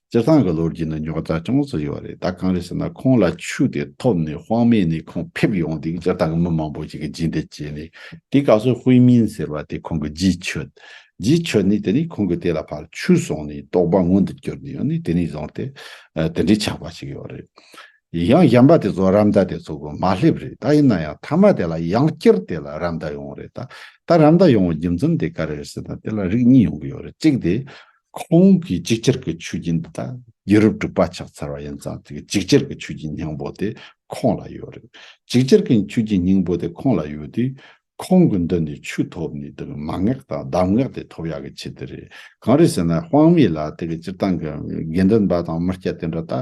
སྤྱིར་བཏང་གི་ལོ་རྒྱུས་ནི་རྙོག་དྲ་ཅུང་ཙམ་ཡོད་རེད་ད་གང་རེད་ཟེར་ན་ཁོང་ལ་ཆུ་དེ་ཐོབ་ནས་དཔང་མེད་ནས་ཁོང་ཕེབས་ཡོང་དུས་སྤྱིར་བཏང་གི་མི་མང་པོ་ཞིག་གིས་རྗེས་འདེད་བྱས་ནས་དེ་སྐབས་སུ་ཧུའེ་མིན་ཟེར་བ་དེ་ཁོང་གི་རྗེས་ཆོད། རྗེས་ཆོད་ནས་དེ་ནས་ཁོང་གི་དེ་ལ་ཕར་ཆུ་བཟུང་ནས་རྟོག་པ་མངོན་དུ་གྱུར་ནས་ཡོང་ནས་དེ་ནས་བཟུང་སྟེ་དེ་འདྲའི་ཆགས་པ་ཞིག་ཡོད་རེད། ཡང་གཞན་པ་དེ་ཚོ་རམ་ཟླ་དེ་ཚོ་གི་མ་སླེབས་རེད་ད་ཡིན་ན་ཡང་མཐའ་མ་དེ་ལ་ཡང་བསྐྱར་དེ་ལ་རམ་ཟླ་ཡོང་རེད་ད་ད་རམ་ཟླ་ཡོང་བའི་རྒྱུ་མཚན་དེ་ག་རེ་རེད་ཟེར་ན་དེ་ལ་རིགས་གཉིས་ཡོང་གི་ཡོད་རེད་གཅིག་དེ། ཁོང་གིས་གཅིག་གྱུར་གྱི་ཆུ་རྒྱུན་འདི་དག་ཡུ་རོབ་ཏུ་པར་ཆགས་ཚར་བ་ཡིན་ཙང་དེ་གི་གཅིག་གྱུར་གྱི་ཆུ་རྒྱུན་སྙིང་པོ་དེ་ཁོང་ལ་ཡོད་རེད། གཅིག་གྱུར་གྱི་ཆུ་རྒྱུན་སྙིང་པོ་དེ་ཁོང་ལ་ཡོད་དུས། ཁོང་གི་མདུན་ནས་ཆུ་ཐོབ་ནས་དེ་གི་མ་ངག་དང་གདམས་ངག་དེ་ཐོབ་ཡག་གི་ཆེད་དུ་རེད། གང་རེད་ཟེར་ན་དཔང་མེད་ལ་དེ་གི་སྤྱིར་བཏང་གི་དགེ་འདུན་པ་དང་མི་སྐྱ་དེ་འདྲ་དག་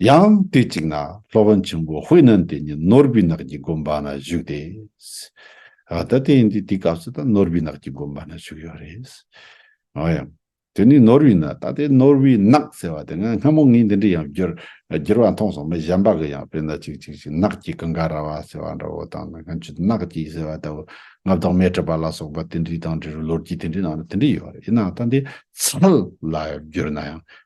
ཡང་དུས་གཅིག་ན་སློབ་དཔོན་ཆེན་པོ་དཔེ་རྣོན་དེ་ཉིད་ནོར་བུའི་ནགས་ཀྱི་དགོན་པ་ན་བཞུགས་ཏེ། ད་དེ་ཡིན་དུས་དེའི་སྐབས་སུ་ད་ནོར་བུའི་ནགས་ཀྱི་དགོན་པ་ན་བཞུགས་ཡོད་རེད། ཨོ་ཡང། དེ་ནི་ནོར་བུའི་ནགས་ད་ལྟའི་ནོར་བུའི་ནགས་ཟེར་བ་དེ་སྔ་སྔ་མོ་ངས་འདི་འདྲའི་ཡང་བསྒྱུར་བ་མཐོང་སོང་མི་གཞན་པ་གི་ཡང་དཔེར་ན་ཅིག་ཅིག་ཅིག་ནགས་ཀྱི་ཀུན་དགའ་ར་བ་ཟེར་བ་འདྲ་བོ་དང་ནགས་ཀྱི་ནགས་ཀྱི་ཟེར་བ་ལྟ་བུ་མངའ་བདག་མའི་སྤྲུལ་པ་ལ་སོགས་པ་དེ་འདྲའི་དང་འདྲ་བའི་ལོ་རྒྱུས་དེ་འདྲའི་ནང་ན་དེ་འདྲའི་ཡོད་རེད་ཡིན་ནའང་ད་འདི་ཚུལ་ལ་བསྒྱུར་ན་ཡང་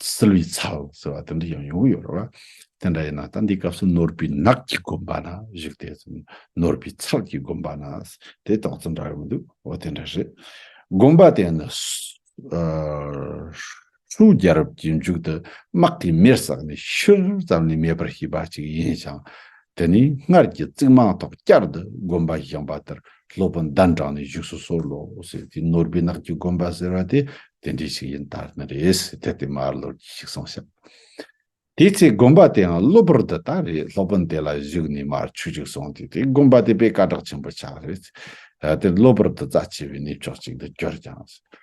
བསིལ་བའི་ཚལ་ཟེར་བ་དེ་འདྲ་ཡང་ཡོང་གི་ཡོད་རེད་བ། དེ་འདྲ་ཡིན་ན་ད་འདིའི་སྐབས་སུ་ནོར་བུའི་ནགས་ཀྱི་དགོན་པ་ན་བཞུགས་ཏེ། ནོར་བུའི་ཚལ་གྱི་དགོན་པ་ན་དེ་དག་ཙམ་འདྲ་ཡོང་གི་འདུག་འོ་དེ་འདྲ་རེད། དགོན་པ་དེ་ནི། ཧྲུའུ་རྒྱལ་རབས་ཀྱི་མཇུག་ཏུ་དམག་གིས་མེར་བསྲེགས་ནས་ཤུལ་ཙམ་ལས་མེད་པར་བྱས་པ་ཅིག་ཡིན་ཞིང། དེ་ནས་སྔར་གྱི་རྩིག་རྨང་ཐོག་བསྐྱར་དུ་དགོན་པ་བཞེངས་པ་ལྟར་སློབ་དཔོན་ཟླ་འབྲང་ནས་བཞུགས་སུ་གསོལ་ལོ་ཟེར་དུས་ནོར་བུའི་ནགས་ཀྱི་དགོན་པ་ཟེར་བ་དེ་དེ་འདྲས་ཤིག་ཡིན་དར་ནི་རེད་ཟེར་དེ་ལྟས་མར་ལོར་གྱིས་ཤིག་སོང་ཤག། དེའི་ཚེ་དགོན་པ་དེའང་གློ་བུར་དུ་ད་རེས་སློབ་དཔོན་དེ་ལ་བཞུགས་ནས་མར་ཆུ་ཅིག་སོང་དུས་དེ་དགོན་པ་དེ་པས་བཀའ་བསྒྲགས་ཆེན་པོ་ཆགས་རེད། དེར་གློ་བུར་དུ་རྩ་ཆེ་བའི་གནས་མཆོག་ཅིག་འདི་གྱུར་ཀྱང།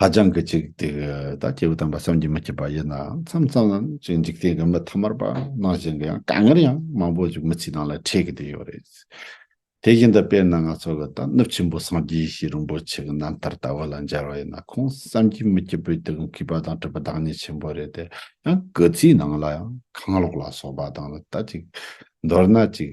ཧ་ཅང་གི་ཅིག་དེ་གི་ད་སྐྱེས་བུ་དམ་པ་བསམ་གྱིས་མི་ཁྱབ་པ་ཡིན་ནའང་མཚམས་མཚམས་ལ་ཅིག་འཇིག་རྟེན་གྱི་མི་ཐ་མར་པ་ནང་བཞིན་གྱི་ཡང་དཀའ་ངལ་ཡང་མང་པོ་ཅིག་མི་ཚེའི་ནང་ལ་འཕྲད་གི་དེ་ཡོད་རེད། དེ་བཞིན་དུ་དཔེར་ན་ང་ཚོ་གི་ད་ནུབ་ཆེན་པོ་སངས་རྒྱས་ཤིག་རིན་པོ་ཆེ་གི་རྣམ་ཐར་ལྟ་བུ་ལ་མཇལ་བ་ཡིན་ན་ཁོང་བསམ་གྱིས་མི་ཁྱབ་པོས་དེ་གི་མཁས་པ་དང་དྲིས་པ་བདག་ཉིད་ཆེན་པོ་རེད་དེ་ཡང་གི་ཚེའི་ནང་ལ་ཡང་གང་ལོག་ལ་སོགས་པ་དང་ལ་ད་ཅིག་མདོར་ན་ཅིག།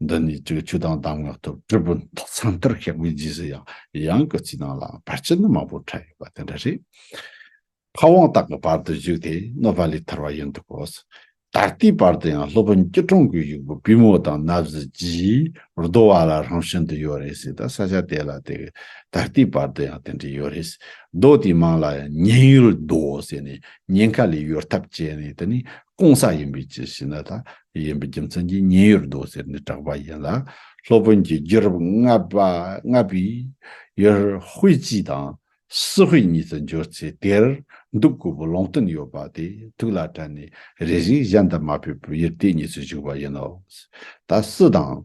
འདི་ནས་ཀྱི་ཆོས་དང་གདམས་ངག་ཐོབ་དྲིལ་བུ་མཐའ་ཚང་ལྟར་བཤགས་པའི་རྗེས་སུ་ཡང་ཡང་གི་ཚིག་ནང་ལའང་བར་ཆད་ནི་མང་པོ་འཕྲད་ཡོད་པ་དེ་འདྲ་རེད། ཕ་དབང་དག་གི་བར་དུ་བཞུགས་ཏེ་གནོད་པ་ལས་ཐར་བ་ཡིན་འདུག་གོ། ད་ལྟའི་བར་དུ་ཡང་སློབ་དཔོན་སྐྱིད་གྲོང་གི་གཞུག་པོ་པུས་མོ་དང་སྣབས་གཟི་བརྗིད་རྡོ་བ་ལ་ཧྲང་ཤིན་ཏུ་ཡོད་རེད་ཟེར་ད་ས་ཆ་དེ་ལ་དེ་གི་ད་ལྟའི་བར་དུ་ཡང་དེ་འདྲ་ཡོད་རེད། རྡོ་དེའི་མིང་ལ་ཡང་ཉེན་ཡུལ་རྡོ་ཟེར་ནས་ཉེན་ཁ་ལས་གཡོལ་ཐབས་བྱས་ནས་དེ་ནས་སྐོང་ས་ཡིན་པའི་ཅི་ཞེ་ན་ད་ཡིན་པའི་རྒྱུ་མཚན་གྱིས་ཉེན་ཡོད་འདུག་ཟེར་ནས་གྲགས་པ་ཡིན་ལ། སློབ་དཔོན་གྱིས་རྒྱུད་རབས་ལྔ་པ་ལྔ་པའི་ཡུལ་དབུས་སྤྱི་དང་སི་དབུས་གཉིས་སུ་འབྱོར་ཚེ་དེར་འདུག་དགོས་པའི་ལུང་བསྟན་ཡོད་པ་དེ་ཐུགས་ལ་དྲན་ནས་རེ་ཞིག་གཞན་དུ་མ་ཕེབས་པར་ཡུལ་དེ་གཉིས་སུ་བཞུགས་པ་ཡིན་ནོ། ད་སི་དང།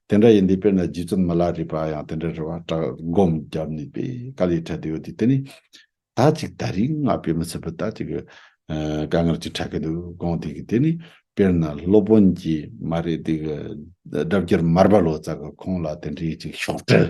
དེ་འདྲ་ཡིན་དུས་དཔེར་ན་རྗེ་བཙུན་མ་ལ་རི་པ་ཡང་དེ་འདྲའི་རེ་བ་བཀྲག་སྒོམ་བརྒྱབ་ནས་པའི་དཀའ་ལས་འཕྲད་དུ་ཡོད་དུས་དེ་ནི། ད་ཅིག་ད་རིང་ང་དཔེ་མི་སྲིད་པར་ད་ཅིག་དཀའ་ངལ་ཅིག་འཕྲད་ཀྱི་འདུག་དགོངས་དེ་གི་དེ་ནི་དཔེར་ན་སློབ་དཔོན་གྱིས་མ་རེད་དེ་གི། སྒྲ་བསྒྱུར་མར་པ་ལོ་ཙཱ་གི་ཁོང་ལ་དེ་འདྲའི་ཅིག་ཤོག་དྲིལ་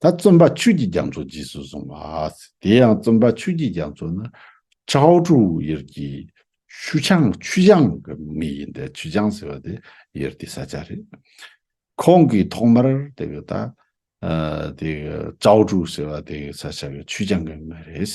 ད་བརྩོན་པ་ཆོས་ཀྱི་རྒྱ་མཚོ་རྗེས་སུ་བཟུང་བ། དེ་ཡང་བརྩོན་པ་ཆོས་ཀྱི་རྒྱ་མཚོ་ནི། ཁྲའོ་ཀྲུའུ་ཡེར་གྱི་ཆུ་ཆང་ཆུ་ཆང་གི་མི་ཡིན་ཏེ་ཆུ་ཆང་ཟེར་བ་དེ་ཡེར་ཏི་ས་ཆ་རེད། ཁོང་གིས་ཐོག་མར་དེ་ག་ད་དེ་ག་ཀྲའོ་ཀྲུའུ་ཟེར་བ་དེ་ག་ས་ཆ་གི་ཆུ་ཆང་གི་མི་རེད།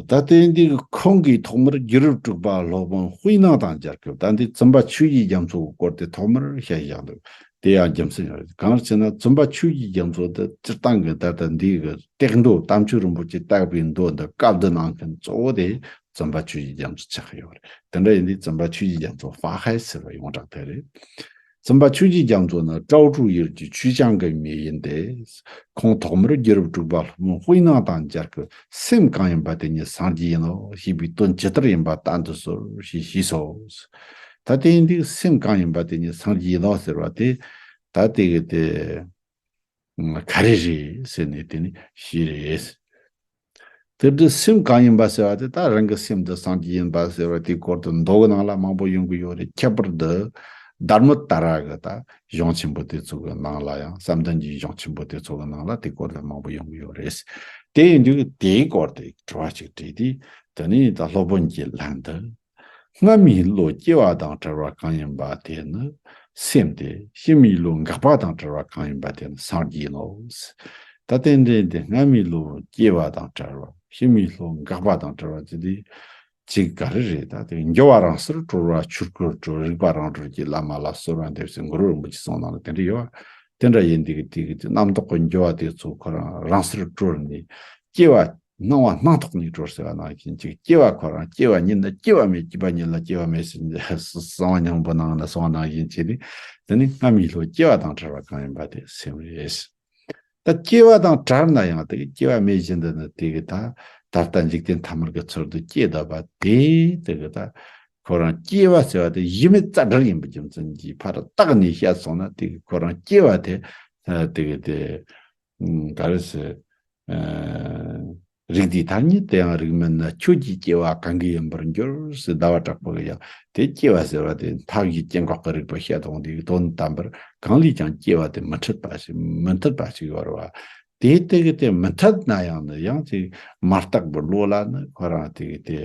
ད་ལྟའི་འདི་ཁོང་གིས་ཐོག་མར་རྒྱུད་རབས་དྲུག་པ་སློབ་དཔོན་དབུས་ནང་དང་སྦྱར་སྐབས་ད་འདི་བཙུན་པ་ཆོས་ཀྱི་རྒྱ་མཚོ་གི་སྐོར་དེ་ཐོག་མར་བཤད་བཞག་འདུག་དེ་ཡང་རྒྱུ་མཚན་ཡོད་རེད་གང་ལ་ཅེ་ན་བཙུན་པ་ཆོས་ཀྱི་རྒྱ་མཚོ་འདི་སྤྱིར་བཏང་གི་ད་ལྟ་འདི་གི་སྟེགས་མདོ་དམ་ཆོས་རིན་པོ་ཆེ་བཏགས་པའི་མདོ་འདི་བཀའ་བསྡུ་གནང་མཁན་གཙོ་བོ་དེ་བཙུན་པ་ཆོས་ཀྱི་རྒྱ་མཚོ་ཆགས་ཡོད་རེད་དེ་འདྲ་ཡིན་དུས་བཙུན་པ་ཆོས་ཀྱི་རྒྱ་མཚོ་དཔག་ཧའི་ཟེར་བ་ཡོངས་གྲགས་དེ་རེད། བཙུན་པ་ཆོས་རྗེ་རྒྱ་མཚོ་ནི་ཀྲའོ་ཀྲུའུ་ཡུལ་གྱི་ཆུས་ཅང་གི་མི་ཡིན་ཏེ། ཁོང་ཐོག་མར་རྒྱུད་རབས་དྲུག་པ་ལྷུན་པོ་ཧུའེ་ནང་དང་སྦྱར་གྱི་སེམས་གང་ཡིན་པ་དེ་ཉིད་སངས་རྒྱས་ཡིན་ནོ་ཞེས་པའི་དོན་ཇི་ལྟར་ཡིན་པ་བསྟན་དུ་གསོལ་ཞེས་ཞུས་སོ། ད་དེའི་འདུག་སེམས་གང་ཡིན་པ་དེ་ཉིད་སངས་རྒྱས་ཡིན་ནོ་ཟེར་བ་དེ་ད་དེ་ག་རེ་རེད་ཟེར་ནས་དེ་ནི་ཞེས་རེད། དེབ་འདི་སེམས་གང་ཡིན་པ་ཟེར་བ་དེ་ད་རང་གི་སེམས་འདི་སངས་རྒྱས་ཡིན་པ་ཟེར་བ་དེའི་སྐོར་དུ་མདོ་གི་ནང་ལ་མང་པོ་ཡོང་གི་ཡོད་རེད་ཁྱད་པར་དུ་སྡར་མོ་ལྟ་ར་གི་ད་གཞུང་ཆེན་པོ་དེ་ཚོ་གི་ནང་ལ་ཡང་བསམ་གཏན་གྱི་གཞུང་ཆེན་པོ་དེ་ཚོ་གི་ནང་ལ་དེའི་སྐོར་དུ་མང་པོ་ཡོང་གི་ཡོད་རེད། དེ་ཡིན་དུས་དེའི་སྐོར་དེ་དྲི་བ་ཞིག་དྲིས་དུས་དེ་ནི་ད་སློབ་དཔོན་གྱིས་ལན་དུ། སྔར་མི་ཡི་བློ་སྐྱེ་བ་དང་བྲལ་བ་གང་ཡིན་པ་དེ་ནི་སེམས་ཏེ། ཕྱི་མི་ཡི་བློ་འགགས་པ་དང་བྲལ་བ་གང་ཡིན་པ་དེ་ནི་སངས་རྒྱས་ཡིན་ནོ། ད་རྟེན་འབྲེལ་འདི་སྔར་མི་ཡི་བློ་སྐྱེ་བ་དང་བྲལ་བ་ཕྱི་མི་ཡི་བློ་འགགས་པ་དང་བྲལ་བ་དེ་དེ་གཅིག་ག་རེ་རེད་ད་དེ་འགྱུར་བ་རང་སར་གྲོལ་བ་ཆོས་སྐུར་གྲོལ་རིག་པ་རང་གྲོལ་གྱི་བླ་མ་ལ་གསོལ་བ་འདེབས་ཟེར་མགུར་བ་རིན་པོ་ཆེ་གསུང་གནང་ལ་དེ་འདྲ་ཡོད་བ་དེ་འདྲ་ཡིན་དེ་གི་དེ་གི་དེ་རྣམ་རྟོག་གི་འགྱུར་བ་དེ་ཚོ་ཁོ་རང་རང་སར་གྲོལ་ནས་སྐྱེ་བ་སྣང་བ་སྣང་ཐོག་ཉིད་གྲོལ་ཟེར་བ་ནང་བཞིན་གཅིག་སྐྱེ་བ་ཁོ་རང་སྐྱེ་བ་ཉིད་ནི་སྐྱེ་བ་མེད་སྐྱེས་པ་ཉིད་ལ་སྐྱེ་བ་མེད་ཟེར་ནས་གསང་བ་སྙིང་པོ་ནང་ལ་སོང་བ་ནང་བཞིན་བྱས་ཏེ་འདི་ནི་སྔ་མའི་ལྷོའི་སྐྱེ་བ་དང་བྲལ་བ་གང་ཡིན་པ་དེ་སེམས་རེད། ད་སྐྱེ་བ་དང་བྲལ་ན་ཡང་དེ་སྐྱེ་བ་མེད་བཞིན་དུ་ནི་དེ་གི་ད་ད་ལྟ་འཇིག་རྟེན་ཐ་མར་གི་ཚུལ་དུ་སྐྱེས་བསྡད་པ་དེ་དེ་གི་ད་ཁོ་རང་སྐྱེ་བ་ཟེར་བ་དེ་གཞི་མེད་རྩ་བསྒྲིགས་ཡིན་པའི་རྒྱུ་མཚན་གྱིས་ཕར་བཏགས་ནས་བཤད་སོང་ན་དེ་གི་ཁོ་རང་སྐྱེ་བ་དེ་དེ་གི་དེ་ག་རེ་ཟེར། རིགས་འདི་དག་ཉིད་དེའང་རིགས་མེད་ན་ཁྱོད་ཀྱིས་སྐྱེ་བ་གང་གི་ཡིན་པར་འགྱུར་ཞེས་ཟླ་བ་དྲག་པོ་ལ་ཡང་དེ་སྐྱེ་བ་ཟེར་བ་དེ་མཐའ་གི་སྐྱེ་འགག་གི་རིགས་པ་བཤད་དོ་འདིའི་དོན་དམ་པར་གང་ལས་ཀྱང་སྐྱེ་བ་དེ་མི་འཐད་པ་ཞིག་མི་འཐད་པ་ཞིག་ཡོད་རེད། དེ་དེ་གི་དེ་མི་འཐད་ན་ཡང་ནི་ཡང་དེ་མ་བརྟགས་པའི་བློ་ལ་ནི་ཁོ་རང་དེ་གི་དེ་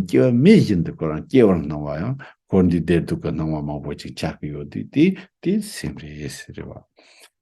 སྐྱེ་བ་མེད་བཞིན་དུ་ཁོ་རང་སྐྱེ་བར་སྣང་བ་ཡང་འཁོར་འདས་བདེ་སྡུག་གི་སྣང་བ་མང་པོ་ཅིག་ཆགས་ཀྱི་ཡོད་དུས་དེ་དེ་སེམས་རེད་ཟེར་བ།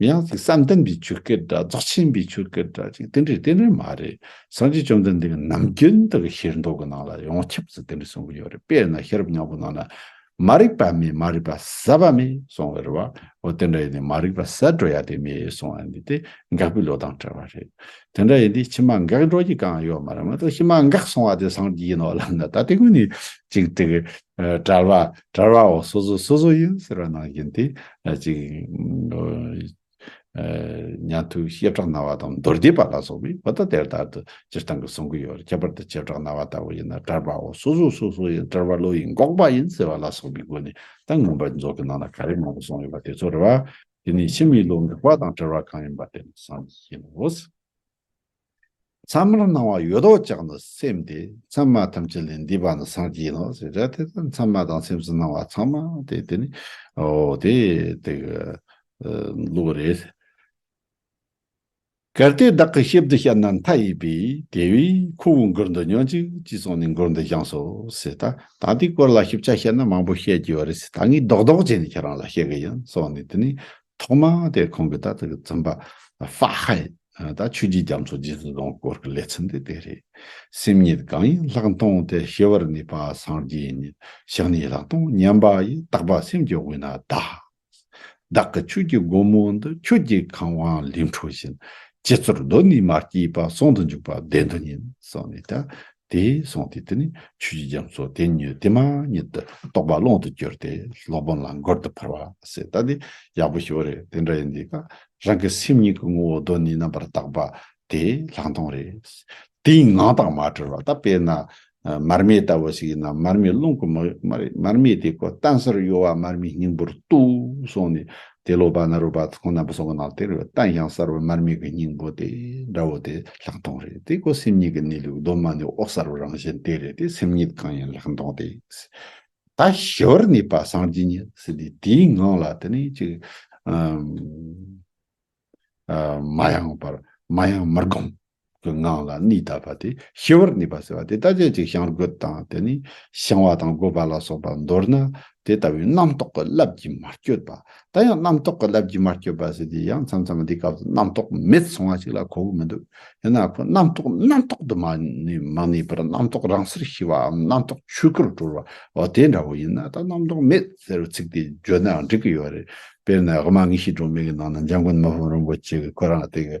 མི་ཡང་སྲིད་བསམ་གཏན་པའི་ཆོས་སྐད་སྒྲ་རྫོགས་ཆེན་པའི་ཆོས་སྐད་སྒྲ་ཅིག་དེ་འདྲའི་རྟེན་འབྲེལ་མ་རེད་སངས་རྒྱས་བཅོམ་ལྡན་འདས་ཀྱི་ནམ་རྒྱུན་དུ་གི་ཤེར་མདོ་གི་ནང་ལ་ཡོངས་ཁྱབ་སུ་དེ་འདྲ་གསུང་གི་ཡོད་རེད་དཔེར་ན་ཤེས་རབ་སྙིང་པོ་ནང་ན་མ་རིག་པ་མེད་མ་རིག་པ་ཟད་པ་མེད་གསུང་བའི་རེད་བ་འོ་དེ་འདྲ་ཡིན་ནའི་མ་རིག་པ་ཟད་འགྲོ་ཡ་དེ་མེད་གསུང་བ་འདི་དེ་འགག་པའི་ལོ་ལྟང་བྲལ་བ་རེད་དེ་འདྲ་ཡིན་དུས་ཕྱི་མ་འགག་འགྲོ་རྒྱུ་གང་ཡོད་མ་རེད་མ་གཏོགས་ཕྱི་མ་འགག་གསུང་བ་དེ་སངས་རྒྱས་ཡིན་ནོ་ལབ་ན་ད་དེ་ཀུན་ནས་ཅིག་དེ་གི་དྲ་བ་དྲ་བའོ་སོ་སོ་སོ་སོ་ཡིན་ཟེར་བ་ནང་བཞིན་དེ་ཅིག་ཉན་ཐོས་བཤད་གྲགས་རྣ་བ་དང་མདོར་བསྡུས་པ་ལ་སོགས་པའི་བུ་དག་དེར་ལྟར་དུ་སྤྱིར་བཏང་གི་གསུང་གི་ཡོད་ཁྱད་པར་དུ་བྱེ་བྲག་རྣ་བ་ལྟ་བུ་ཡིན་ན་དྲ་བའོ་སོ་སོ་སོ་སོ་ཡིན་དྲ་བ་བློ་ཡིས་འགོག་པ་ཡིན་ཟེར་བ་ལ་སོགས་པའི་སྒོ་ནས་གཏམ་ངན་པ་རྫོགས་ཀྱི་ནང་ན་ག་རེ་མང་པོ་གསུངས་ཡོད་པ་དེ་ཚོར་རེ་བ་དེ་ནས་ཕྱི་མའི་བློ་འགག་པ་དང་བྲལ་བ་གང་ཡིན་པ་དེ་ནས་སངས་རྒྱས་ཡིན་ནོ། མཚམས་མར་སྣང་བ་ཡོད་དོ་ཅག་ནི་སེམས་ཏེ་མཚམས་མ་ཐམས་ཅད་ལས་འདས་པ་ནི་སངས་རྒྱས་ཡིན་ནོ་ཞེས་བྱ་སྟེ་མཚམས་མ་དང་སེམས་སུ་སྣང་བ་ཚང་མ་སྟེ་དེ་ནི་དེ་དག་ལུགས་རེད། གལ་ཏེ་བདག་གིས་ཤེས་བདེ་ཤ་ན་མཐའ་ཡས་པས་དེ་བས་ཁོ་བོའི་མགུར་འདི་ཉོན་ཅིག་ཅེས་གསུངས་ནས་མགུར་འདི་བཞེངས་སོ་ཞེས་དང་ད་འདིའི་སྐོར་ལ་ཞིབ་ཆ་བཤད་ན་མང་པོ་བཤད་རྒྱུ་ཡོད་རེད་ད་ངས་རྡོག་རྡོག་བྱས་ནས་ཁྱེད་རང་ལ་བཤད་གི་ཡིན་གསུངས་ནས་དེ་ནས་ཐོག་མ་དེ་ཁོང་གི་ད་ལྟ་གི་བཙུན་པ་ཧྥ་ཧའེ་དང་ཆོས་རྒྱུད་རྒྱ་མཚོ་རྗེ་བཙུན་སྡོང་སྐོར་གྱི་ལས་ཚིམ་དེ་དེ་རེད། སེམས་ཉིད་གང་ཡིན་ལྷག་མཐོང་དེ་ཤེས་པར་ནུས་པ་སངས་རྒྱས་ཉིད་ཞག་ནི་ལྷག་མཐོང་མཉམ་པ་ཡི་དག་པ་སེམས་ཀྱི་དབུས་ན་བདག། བདག་གི་ཆོས་ཀྱི་སྒོ་མོ་འདི་ཁྱོད་ཀྱི་གང་བང་ལིང་འཕྲོ་བཞིན། ཇི་ཚོར་གདོད་ནས་མ་སྐྱེས་པ་སོང་དུ་འཇུག་པ་བདེན་དུ་ཉིད་སོགས་ནས་ད་དེས་གསུངས་ཏེ་དེ་ནི་ཆོས་ཀྱི་རྒྱ་མཚོ་དེ་ཉིད་དེ་མ་ཉིད་དུ་རྟོགས་པ་ཀློང་དུ་གྱུར་ཏེ་སློབ་དཔོན་ལ་མགུར་འདི་ཕར་བ་ཟེར་ད་དེ་ཡག་པོ་ཞུ་བ་རེད་དེ་འདྲ་ཡིན་དེ་ཀ་རང་གི་སེམས་ཉིད་ཀྱི་ངོ་བོ་གདོད་ནས་རྣམ་པར་དག་པ་དེ་ལྷག་མཐོང་རེད། དེའི་ངང་དག་མ་གྲོལ་བ་ད་དཔེར་ན་མར་མེ་ལྟ་བུ་ཞིག་ཡིན་ན་མར་མེའི་རླུང་གིས་མར་མེ་དེ་ཀོ་ཏན་སར་གཡོ་བ་མར་མེའི་སྙིང་པོར་ཏུ་སོང་ནས་དེ་སློབ་པ་ན་རུ་པ་ཚོང་ནམ་པ་སོགས་ཀྱི་ནང་དེར་བལྟ་ཡང་གསར་བའི་མར་མེ་གི་སྙིང་པོ་དེ་འདྲ་བོ་དེ་ལྷག་མཐོང་རེད་དེ་ཁོ་སེམས་ཉིད་ཀྱི་གནས་ལུགས་གདོད་མ་ནས་འོག་གསར་བའི་རང་བཞིན་དེ་རེད་དེ་སེམས་ཉིད་གང་ཡིན་ལྷག་མཐོང་དེ། ད་ཞི་བར་གནས་པ་སངས་རྒྱས་ཉིད་ཟེར་དུས་དེའི་ངང་ལ་དེ་ནི་ཅི། མ་ཡང་བར་མ་ཡང་མར་བསྒོམས། གི་ངང་ལ་གནས་དག་པ་དེ་ཤི་བར་གནས་པ་ཟེར་བ་དེ་ལྟ་སྐད་ཅིག་བྱང་རྒོད་དང་དེ་ནི་བྱང་བ་དང་རྒོད་པ་ལ་སོགས་པ་མདོར་ན་དེ་ལྟ་བུའི་རྣམ་རྟོག་གི་རླབས་ཀྱིས་མ་བསྐྱོད་པ། ད་ཡང་རྣམ་རྟོག་གི་རླབས་ཀྱིས་མ་བསྐྱོད་པ་ཟེར་དུས་ཡང་མཚམས་མཚམས་འདིའི་སྐབས་སུ་རྣམ་རྟོག་མེད་སོང་བ་ཞིག་ལ་གོ་བོ་མི་འདུག་ཡིན་ན་ཁོ་རྣམ་རྟོག་རྣམ་རྟོག་ཏུ་མ་གནས་པར་རྣམ་རྟོག་རང་སར་ཤི་བའམ་རྣམ་རྟོག་ཆོས་སྐུར་གྲོལ་བའོ་དེ་འདྲ་བོ་ཡིན་ན་ད་རྣམ་རྟོག་མེད་ཟེར་བའི་ཚིག་དེ་བརྗོད་ནའང་འགྲིག་གི་ཡོད་རེད་དཔེར་ན་དབུ་མ་དངོས་གཞིའི་སྒྲོན་མེ་གི་ནང་ན་འཇམ་མགོན་དམར་པོ་རིན་པོ་ཆེ་གིས་ཁོ་རང་སྟེ།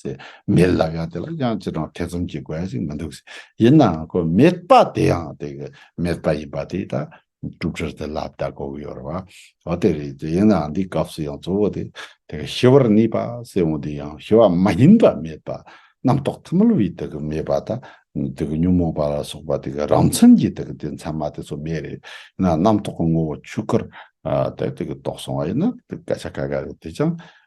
ཟེར། མེད་ལབ་ཡང་དེ་ལ་དབྱངས་ཅི་དྲང་ཐེ་ཚོམ་གྱི་དགོས་ཡ་ཞིག་མི་འདུག་ཟེར། ཡིན་ནའང་ཁོས་མེད་པ་དེ་ཡང་དེ་གི་མེད་པ་ཡིན་པ་དེ་ད་སྒྲུབ་གྲལ་དུ་ལབ་ད་གོ་གི་ཡོད་རེད་བ། འོ་དེ་རེད་ཟེར། ཡིན་ནའང་འདིའི་སྐབས་སུ་ཡང་གཙོ་བོ་དེ་དེ་གི་ཞི་བར་གནས་པ་སེར་བོ་འདི་ཡང་ཞི་བ་མ་ཡིན་པ་མེད་པ་རྣམ་རྟོག་ཐིམ་མོལ་བའི་དེ་གི་མེད་པ་ད་དེ་གི་ཉོན་མོངས་པ་ལ་སོགས་པ་དེ་གི་རང་མཚན་གྱི་དེ་གི་དེ་མཚན་མ་དེ་ཚོ་མེད་རེད། ཡིན་ནའང་རྣམ་རྟོག་གི་ངོ་བོ་ཆོས་སྐུར་ད་དེ་གི་རྟོགས་སོང་བ་ཡིན་ན་དེ་སྐད་ཆ་ག་ག་རེད་དེ་ཅང་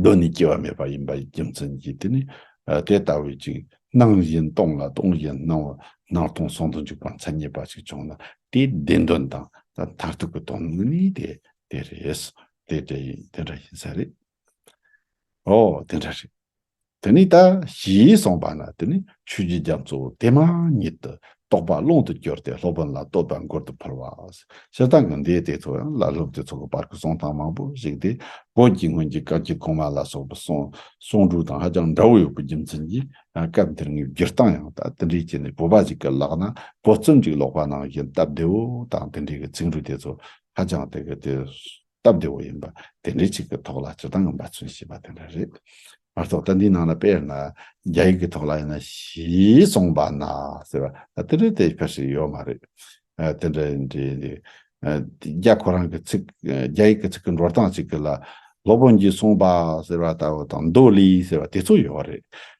གདོད་ནས་སྐྱེ་བ་མེད་པ་ཡིན་པའི་རྒྱུ་མཚན་གྱིས་དེ་ནི་དེ་ལྟ་བུའི་ཅིག། སྣང་བཞིན་སྟོང་ལ་སྟོང་བཞིན་སྣང་བ་སྣང་སྟོང་ཟུང་དུ་འཇུག་པ་མཚན་ཉིད་པ་ཞིག་བྱུང་ན་དེའི་བདེན་དོན་དང་མཐར་ཐུག་གི་དོན་ནི་དེ་དེ་རེད། དེ་དེ་ཡིན་དེ་འདྲ་ཡིན་ས་རེད། འོ་དེ་འདྲ་རེད། དེ་ནས་ད་ཞེས་གསུངས་པ་ན་དེ་ནས་ཆོས་ཀྱི་རྒྱ་མཚོ་དེ་མ་ཉིད་དུ་རྟོགས་པ་ཀློང་དུ་གྱུར་ཏེ་སློབ་དཔོན་ལ་བསྟོད་པ་མགུར་དུ་ཕུལ་བ། སྤྱིར་བཏང་གི་མདོའི་སྡེ་ཚོ་ཡང་བླ་སློབ་དེ་ཚོ་གི་བར་གྱི་གསུང་སྟངས་མང་པོ་ཞིག་སྟེ་བོད་ཀྱི་སྔོན་གྱི་སྐབས་ཀྱི་གོང་མ་ལ་སོགས་པའི་གསུང་སྒྲོས་དང་ཧ་ཅང་འདྲ་བོ་ཡོད་པའི་རྒྱུ་མཚན་གྱིས་སྐབས་འདིར་ངེས་བསྒྱུར་སྟངས་ཡང་དག་དེ་འདྲའི་སྤྱད་ནས་བོད་པ་ཞིག་གི་ལག་ན་བོད་རྩོམ་ཅིག་ཀློག་པ་ནང་བཞིན་སྟབས་བདེ་བོ་དང་དེ་འདྲའི་གི་ཚིག་འབྲུ་དེ་ཚོ་ཧ་ཅང་དེ་གི་དེ། སྟབས་བདེ་བོ་ཡིན་པ་དེ་འདྲའི་ཅིག་གི་ཐོག་ལ་སྤྱི་བཏང་འབའ་ཚུན་ཞེས་པ་དེ་འདྲ་རེད། མ་གཏོགས་ད་འདིའི་ནང་ལ་དཔེར་ན་རྒྱ་ཡིག་གི་ཐོག་ལ་ཡིན་ན་ཞེས་གསུངས་པ་ན་ཟེར་བ་ད་དེ་འདྲའི་དེ་ཕལ་ཞིག་ཡོད་མ་རེད། དེ་འདྲ་ཡིན་དུས་འདི་རྒྱ་ཁོ་རང་གི་ཚིག་རྒྱ་ཡིག་གི་ཚིག་གི་འགྲོ་སྟངས་ཅིག་གི་ལ་སློབ་དཔོན་གྱིས་གསུངས་པ་ཟེར་བ་ལྟ་བུ་དང་མདོ་ལས་ཟེར་བ་དེ་ཚོ་ཡོད་རེད།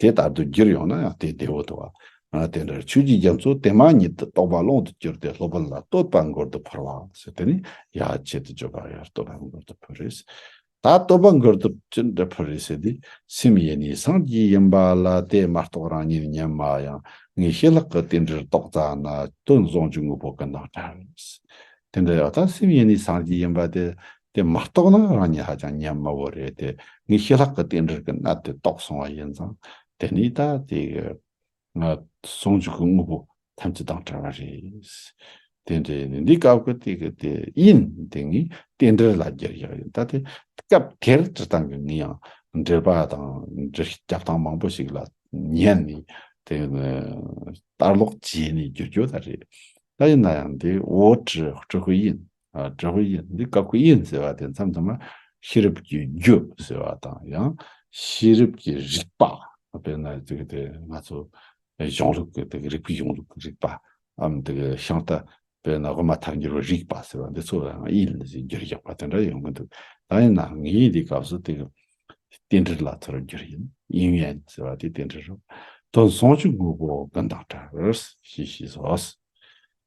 དེ་ལྟར་དུ་གྱུར་ཡོང་ན་ཡང་དེ་བདེ་བོ་དོ། དེ་འདྲར་ཆོས་ཀྱི་རྒྱ་མཚོ་དེ་མ་ཉིད་དུ་རྟོགས་པ་ཀློང་དུ་གྱུར་ཏེ་སློབ་དཔོན་ལ་བསྟོད་པ་མགུར་དུ་ཕུལ་བ། ཞེས་དེ་ནི་ཡ་བྱེད་དུ་བརྗོད་པ་ཡར་བསྟོད་པ་མགུར་དུ་ཕུལ་རེས་ད་བསྟོད་པ་མགུར་དུ་ཅི་འདྲ་ཕུལ་རེས་ཞེས་དེས་སེམས་ཡེ་ནས་སངས་རྒྱས་ཡིན་པ་ལ་དེས་མ་རྟོགས་རང་ཉིད་ཉམས་མ་ཡང་ངེས་ཤེས་ལྷག་གི་དེ་འདྲར་རྟོགས་ཙ་ན་སྟོན་གཟུངས་ཀྱི་དངོས་པོ་ཀུན་དང་བྲལ། དེ་འདྲ་ཡང་དག་སེམས་ཡེ་ནས་སངས་རྒྱས་ཡིན་པ་དེ་དེ་མ་རྟོགས་ན་རང་ཉིད་ཧ་ཅང་ཉམས་དམའ་བོ་རེད་དེ། ངས་ཞི་ལྷག་གི་རྟེན་འབྲེལ་གྱི་གནད་དེ་རྟོགས་སོང་བ་ཡིན་ཙང། དེ་ནི་ད་ལྟའི་ཟུང་འཇུག་གི་དངོས་པོ་ཐམས་ཅད་དང་བྲལ་བ་རེད། དེ་འདྲ་ཡིན་ན་འདི་སྐབས་ཀྱི་དེ་གི་དེ་ཡིན། དེ་ངའི་རྟེན་འབྲེལ་ལ་འགྱུར་ཡག་ཡིན། ད་ལྟའི་སྐབས་དེར་སྤྱིར་བཏང་གི་ངས་ཡང་འགྲེལ་པ་དང་འགྲེལ་སྐྱབས་སྟངས་མང་པོ་ཞིག་ལ་ཉན་ནས་དེ་ལྟར་ལོག་བྱས་ནས་བསྒྱུར་རྒྱུ་ད་རེད། ད་ཡིན་ན་ཡང་འདི་འོ་དྲི་ཧྲུལ་ཧྲུལ་ཡིན། དྲག་པོའི་དབྱིངས་འདི་དཀར་པོའི་དབྱིངས་ཟེར་བ་དེ་མཚམས་དུ་མ་ཤེས་རབ་ཀྱི་རྒྱུ་ཟེར་བ་དང་ཡང་ཤེས་རབ་ཀྱི་རིག་པ་དཔེར་ན་ང་ཚོ་གཞུང་ལུགས་ཀྱི་དེ་རིག་པའི་གཞུང་ལུགས་ཀྱི་རིག་པ་འམ་དེ་ཤིང་རྟ་དཔེར་ན་དབུ་མ་ཐལ་འགྱུར་བའི་རིག་པ་ཟེར་བ་འདི་ཚོ་ལའང་དབྱིངས་ནི་ཟེར་རྒྱུར་ཡག་པ་དེ་འདྲ་ཡོང་གི་འདུག་ད་ཡིན་ནའང་དབྱིངས་དེའི་སྐབས་སུ་དེ་རྟེན་འབྲེལ་ལ་ཚོར་རྒྱུར་ཡིན་དབྱིངས་ཡན་ཟེར་བ་དེ་རྟེན་འབྲེལ་རོ། དོན་ཟུང་ཆུ་དངོས་པོ་ཀུན་དང་འདྲ་བར་ཞེས་ཤེས་སོ།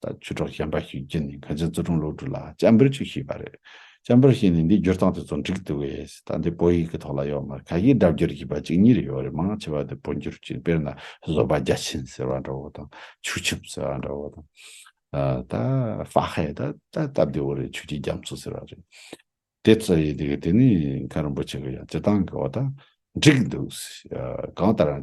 ད་ཆུ་གྲོགས་གཞན་པ་ཞིག་བརྒྱུད་ནས་གངས་ཅན་བཙོན་དྲུང་སློབ་ཕྲུག་ལ་སྤྱན་འབུལ་ཅིག་ཞུས་པ་རེད། སྤྱན་འབུལ་ཞུས་ནས་འདི་སྒྱུར་སྟངས་དེ་ཚོ་འགྲིག་འདུག་བས་ད་འདི་བོད་ཡིག་གི་ཐོག་ལ་ཡོད་མ་རེད་ག་གིས་སྒྲ་བསྒྱུར་བྱས་པ་གཅིག་གཉིས་རེ་ཡོད་རེད་མང་ཆེ་བ་འདི་བོད་འགྱུར་གྱིས་དཔེར་ན་བཟོད་པ་རྒྱ་ཆེན་ཟེར་བ་འདྲ་བོ་དང་ཆུ་ཆུབ་ཟེར་བ་འདྲ་བོ་དང། ད་ཧྥ་ཧའེ་ད་ད་སྟབས་བདེ་བོ་རེད་ཆོས་ཀྱི་རྒྱ་མཚོ་ཟེར་བ་རེད། དེ་ཚོ་ཡིན་དགོས་དེ་ནས་མཁན་རིན་པོ་ཆེ་གིས་ཀྱང་སྤྱི་སྟངས་ཀྱི་འོག་ད་འགྲིག་འདུག་གང་ལྟར།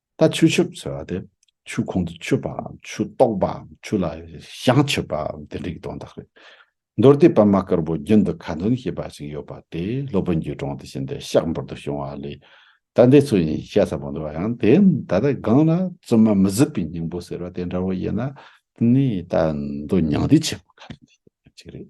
ད་ཆུ་ཆུབ་ཟེར་བ་དེ་ཆུ་ཁོང་དུ་ཆུད་པའམ་ཆུ་གཏོགས་པའམ་ཆུ་ལ་བཤང་ཆུད་པའམ་དེ་འདྲའི་དོན་དག་རེད། མདོར་དེད་པདྨ་དཀར་པོ་རྒྱུན་དུ་ཁ་འདོན་ཞེས་པ་ཞིག་ཡོད་པ་དེ་སློབ་དཔོན་གྱི་དྲུང་དུ་ཕྱིན་ཏེ་ཤག་འབུར་དུ་ཕྱུང་བ་ལས་ད་འདི་ཚོ་ཡིན་བཤད་ས་པོ་འདུག་བ་ཡང་དེ་ད་ལྟ་སྒང་ལ་བཙུན་མ་མི་གཟིགས་པའི་སྙིང་པོ་ཟེར་བ་དེ་འདྲ་བོ་ཡིན་ན་ནི་ད་འདོད་མྱང་འདི་ཆེ་གོ་ག་རེ་ནས་ཡིན་ཅིག་རེད།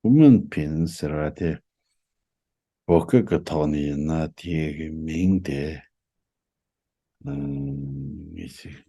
ཧུ་མོན་ཕིན་ཟེར་བ་དེ་བོད་སྐད་ཀྱི་ཐོག་ནས་ཡིན་ན་དེའི་མིང་དེ་ངེས་ཤིག།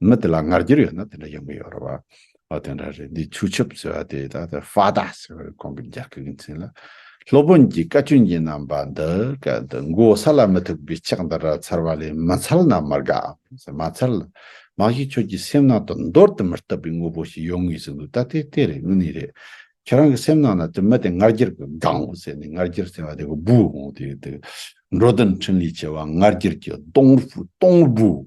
མི་དེ་ལ་ངར་འགྱུར་ཡོད་ན་དེ་འདྲ་ཡོང་གི་ཡོད་རེད་བ། ཨོ་དེ་འདྲ་རེད་འདི་ཆུ་ཆབ་ཟེར་བ་དེ་ད་ལྟ Fada ཟེར་བ་རེད་གོང་གི་རྒྱ་སྐད་ཀྱི་མཚན་ལ། སློབ་དཔོན་གྱིས་བཀའ་བཀྱོན་གྱིན་གནང་བ་འདི་ག་འདི་མགོ་ས་ལ་མི་ཐུག་པའི་ཕྱག་འདི་འདྲ་འཚལ་བ་ལས་མི་འཚལ་ན་མི་དགའ་འམ། མ་འཚལ། མ་གཞི་ཁྱོད་ཀྱི་སེམས་ནང་དུ་འདོར་དུ་མི་བཏུབ་པའི་དངོས་པོ་ཞིག་ཡོང་ངེས་སུ་འདུག་ད་དེ་དེ་རེད་དངོས་གནས་རེད། ཁྱེད་རང་གི་སེམས་ནང་ན་དེ་མི་དེ་ངར་འགྱུར་གྱི་སྒང་བུ་ཟེར་ནས་ངར་འགྱུར་ཟེར་བ་དེ་གི་བུ་འོང་དེ་འདུག་འགྲོ་དོན་འཕྲིན་ལས་ཆེ་བ་ངར་འགྱུར་གྱི་སྟོང་སྟོང་བུ།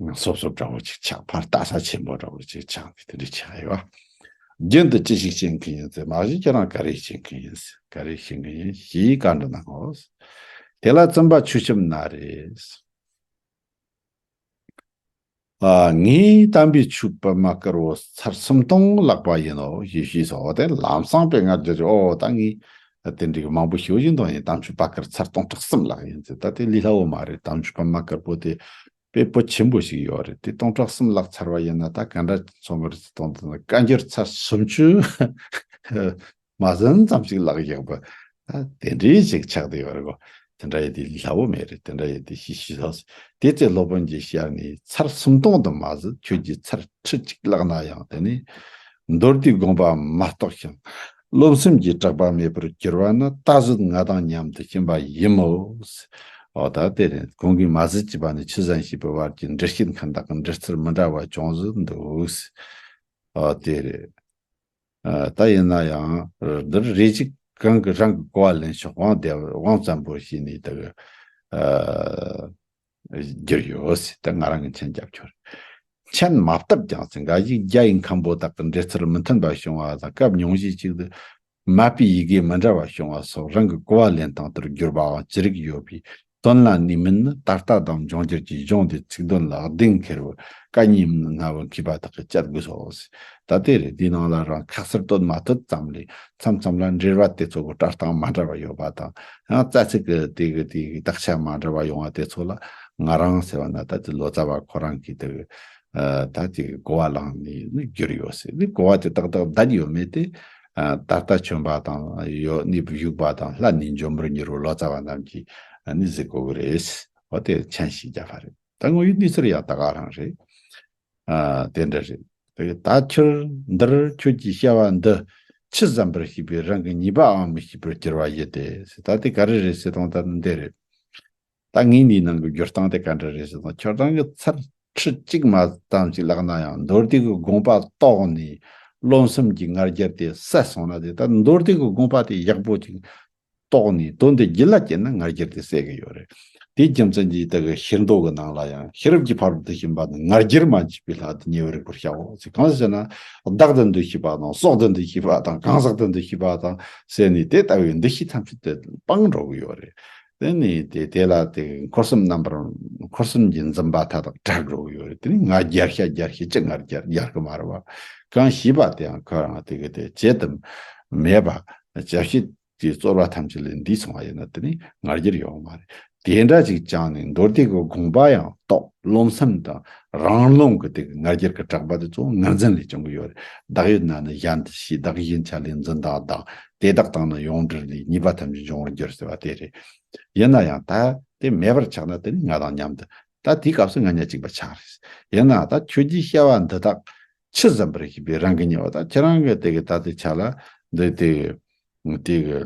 ནང་སོབ་སོབ་འདྲ་བོ་ཅིག་ཆགས་ཕར་ལྟ་ས་ཆེན་པོ་འདྲ་བོ་ཅིག་ཆགས་ཏེ་དེ་འདྲས་ཆགས་ཡོད། རྒྱུན་དུ་ཅི་ཞིག་བཤད་མཁན་ཡིན་ཚེ་མ་གཞི་ཁྱེད་རང་ག་རེ་བཤད་མཁན་ཡིན་ག་རེ་བཤད་མཁན་ཡིན་ཞེས་བཀའ་འདྲི་གནང་ངོ། དེ་ལ་བཙུན་པ་ཆུ་ཆེམས་ན་རེ། ངའི་གཏམ་དཔེ་ཆུ་སྤོས་མ་དཀར་བོ་ཚར་སུམ་སྟོང་བཀླགས་པ་ཡིན་ནོ་ཞེས་ཞུས་སོ་དེར་ལམ་སང་པས་ངར་འགྱུར་གྱིས་ཨོ་ད་ངས་ད་དེ་འདྲའི་གི་མང་པོ་ཞིག་ཡིན་དང་ཡིན་གཏམ་རྒྱུད་པ་ཀར་ཚར་སྟོང་ཕྲག་གསུམ་ལགས་ཡིན་ཚེ་ད་དེ་ལི་ལྷ་འོ་མ་རེད་གཏམ་རྒྱུད་པ་མ་ཀར་པོ་དེ་དཔེ་པོ་ཆེན་པོ་ཞིག་ཡོད་རེད་དེ་སྟོང་ཕྲག་གསུམ་ལགས་ཚར་བ་ཡིན་ན་ད་ག་འདྲ་འཚོ་གི་རེད་ཚེ་སྟོང་དང་བཀའ་འགྱུར་ཚར་སུམ་ཅུ་མ་ཟིན་ཙམ་ཞིག་ལགས་ཡག་པོ་ད་དེ་འདྲའི་ཞིག་ཆགས་དེ་ཡོད་རེད་གོ་དེ་འདྲ་ཡི་དེ་ལི་ལྷ་འོ་མའི་རེད་དེ་འདྲ་ཡི་དེ་ཞི་ཞི་ལགས་དེ་ཚེ་སློབ་དཔོན་གྱི་ཞལ་ནས་ཚར་སུམ་སྟོང་དུ་མ་ཟིན་ཁྱོད་ཀྱིས་ཚར་ཁྲི་གཅིག་ལགས་ན་ཡང་དེ་ནི་མདོར་བསྡུས་དགོངས་པའམ་མ་རྟོགས་ཤིང། བློ་སེམས་ཀྱི་སྐྲག་པ་མེད་པར་གྱུར་བ་ནི་ད་གཟོད་ང་དང་མཉམ་དུ་ཕྱིན་པ་ཡིན་མོད། འོ་ད་དེ་ནས་ཁོང་གིས་མ་ཟེར་གྱི་པ་ནི་ཆུ་ཟན་ཞེས་པའི་བར་གྱི་འབྲི་སྐད་མཁན་དག་གི་འབྲི་རྩལ་མི་འདྲ་བ་ཅུང་བཟོ་འདུག། འོ་དེ་རེད། ད་ཡིན་ན་ཡང་འདིར་རེ་ཅིག་གང་གི་རང་གི་གོ་བ་ལེན་ཤོག་དབང་བདེ་བ་དབང་བཙན་པོ་ཞེས་ནས་དག། རྒྱུ་ཡོད་སྲིད་དེ་ང་རང་གི་མཆན་རྒྱབ་ཆོག་རེད། མཆན་མ་བཏབ་ཀྱང་སྲིད་འགའ་ཞིག་རྒྱ་ཡི་མཁན་པོ་དག་གི་འགྲེལ་ཚུལ་མི་མཐུན་པ་བྱུང་བ་དང་སྐབས་ཉུང་ཤས་ཤིག་ཏུ་མ་དཔེའི་ཡི་གེ་མི་འདྲ་བ་བྱུང་བ་སོགས་རང་གི་གོ་བ་ལེན་སྟངས་ལྟར་བསྒྱུར་པའང་ཅི་རིགས་ཡོད་པས་དོན་ལ་ནུས་མེད་ནི་ད་ལྟ་དང་འབྱུང་འགྱུར་གྱི་གཞུང་འདིའི་ཚིག་དོན་ལ་གདེང་འཁེལ་བའི་བཀའ་རྙིང་མིན་ང་བོད་མཁས་པ་དག་གི་དཔྱད་བསྡུར་སོགས་སྲིད་ད་དེ་རེད་དེའི་ནང་ལ་རང་ཁག་གསར་གཏོད་མ་ཐུབ་ཙམ་ལས་མཚམས་མཚམས་ལ་འབྲེལ་བ་དེ་ཚོ་གི་སྤྲོ་སྟངས་མ་འདྲ་བ་ཡོད་པ་དང་ཡང་རྩ་ཚིག་གི་དེ་གི་དེ་གི་དག་ཆ་མ་འདྲ་བ་ཡོང་བ་དེ་ཚོ་ལ་ང་རང་ཟེར་བ་ན་ད་དེ་ལོ་ཙཱ་བ་ཁོ་རང་གིས་དེ་ད་དེ་གི་གོ་བ་བླངས་ནས་ནི་བསྒྱུར་ཡོད་སྲིད་དེ་གོ་བ་དེ་ཏག་ཏག་བརྡལ་ཡོད་མེད་དེ་ད་ལྟ་བྱོན་པ་དང་ཡོད་ནི་བཞུགས་པ་དང་ལྷ་ནི་འབྱོན་པར་འགྱུར་བ་ལོ་ཙཱ་བ་རྣམས་ཀྱིས་ནི་གཟིགས་དགོས་ཀྱི་རེད། འོ་དེ་མཆན་ཞིག་བརྒྱབ་པ་རེད། ད་དངོས་ཡོད་གནས་ཚུལ་ཡང་ད་ག་རང་རེད། དེ་འདྲ་རེད། ད་ཁྱོད་འདིར་ཁྱོད་ཀྱིས་བཤད་པ་འདི་ཕྱི་བསམ་པར་ཤེས་པའི་རང་གི་ཉེས་པའང་མི་ཤེས་པར་གྱུར་བ་ཡོད་དེ། ད་དེ་ག་རེ་རེད་ཟེར་དང་ད་ནི་འདི་རེད། ད་ངས་འདིའི་ནང་གི་སྦྱོར་སྟངས་དེ་ག་འདྲ་རེད་ཟེར་དང་ཁྱོད་རང་གི་ཚར་ཁྲི་གཅིག་མ་ཙམ་ཞིག་བཀླགས་ན་ཡང་མདོར་བསྡུས་ཀྱི་དགོངས་པ་རྟོགས་ནས་རློམ་སེམས་ཀྱི་ངར་རྒྱབ་དེ་བསད་སོང་ན་དེ་ལྟར་མདོར་བསྡུས་ཀྱི་དགོངས་པ་དེ་ཡག་པོ་ཅིག་རྟོགས་ནས་དོན་དེ་རྒྱུད་ལ་སྐྱེས་ན་ངར་འཁྱེར་དེ་བསད་ཀྱི་ཡོད་རེད། དེའི་རྒྱུ་མཚན་གྱིས་དེ་གའི་ཤེར་མདོ་གི་ནང་ལ་ཡང་ཤེས་རབ་ཀྱི་ཕ་རོལ་ཏུ་ཕྱིན་པ་ནི་ངར་འཁྱེར་མ་མཆིས་པའི་ལྷ་དེ་ཉེ་བའི་རིགས་པར་བྱའོ། གང་ཞེ་ན། བདག་དེ་འདུ་ཤེས་པ་དང་སྲོག་དེ་འདུ་ཤེས་པ་དང་གང་ཟག་དེ་འདུ་ཤེས་པ་དང་བསད་ནས་དེ་ལྟ་བུའི་འདུ་ཤེས་ཐམས་ཅད་དེ་སྤངས་འགྲོ་གི་ཡོད་རེད། དེ་ནས་དེ་དེ་ལ་དེ་གའི་འཁོར་གསུམ་རྣམ་པར་འཁོར་གསུམ་གྱི་འཛིན་པ་མཐའ་དག་དགྲར་འགྲོ་གི་ཡོད་རེད་དེ་ནི་ངར་འཁྱེར་ཤ་འཁྱེར་ཤེས་ཀྱི་ངར་འཁྱེར་འཁྱེར་གི་མ་རེད་བ། གང་ཞེས་པ་དེའང་ཁོ་རང་དེ་གའི་དེ་བྱེད་དུ་མེད་པ། བྱ་བྱེད་ཀྱི་རྩོལ་བ་ཐམས་ཅད་ལས་འདིས་ཚང་བ་ཡིན་ནོ་དེ་ནི་ངར་འགྱུར་ཡོང་བ་མ་རེད། དེ་འདྲ་ཅིག་བཅངས་ནས་མདོར་བསྡུས་ཀྱི་དགོངས་པ་ཡང་རྟོག་བརློམ་སེམས་དང་རང་རློམ་གྱི་དེ་གི་ངར་འགྱུར་གྱི་གྲགས་པ་དེ་ཚོ་ངར་འཛིན་ལས་བྱུང་གི་ཡོད་རེད་བདག་ཡོད་ན་ནི་གཞན་དུ་ཤེས་བདག་གཞན་ཆ་ལས་འཛིན་དང་བདག་དེ་དག་དང་ནི་ཡོངས་འདྲིས་ལས་གཉིས་པ་ཐམས་ཅད་འབྱུང་བར་འགྱུར་ཟེར་བ་དེ་རེད། ཡིན་ན་ཡང་ད་དེ་མེད་པར་ཆགས་ན་དེ་ནི་ང་དང་མཉམ་དུ་ད་དེའི་སྐབས་སུ་ང་ཉག་གཅིག་པ་ཆགས་རེད། ཡིན་ནའང་ད་ཁྱོད་ཀྱིས་བཤད་པ་འདི་དག་ཕྱིར་བརྩམས་པར་བྱེད་པའི་རང་གི་ཉེ་བ་དག་ཁྱེད་རང་གིས་དེ་གའི་ད་ལྟའི་ཆ་ལ་འདི་དེ་དེ་གའི་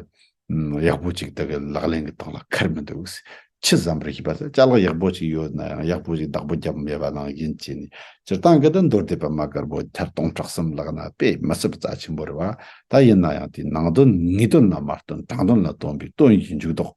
ཡག་པོ་ཅིག་དག་གིས་ལག་ལེན་གྱི་སྟངས་ལ་ཁར་མི་འདུག་ཕྱིར་བརྩམས་པར་བྱེད་པ་དེ་ལྕགས་ལག་ཡག་པོ་ཅིག་ཡོད་ན་ཡང་ཡག་པོ་ཅིག་བདག་པོ་བརྒྱབ་མེད་པ་ནང་བཞིན་བྱས་ནས་སྤྱིར་བཏང་གི་དུ་མདོར་དེད་པ་མ་དཀར་པོ་ཐེར་སྟོང་ཕྲག་གསུམ་ལག་ན་དཔེ་མི་སྲིད་པ་རྩ་ཆེན་པོ་རེད་བ་ད་ཡིན་ན་ཡང་དེའི་ནང་དོན་ངེས་དོན་ལ་མ་ལྟོས་དྲང་དོན་ལ་ལྟོས་པའི་དོན་གྱི་འཇུག་ལྡོག།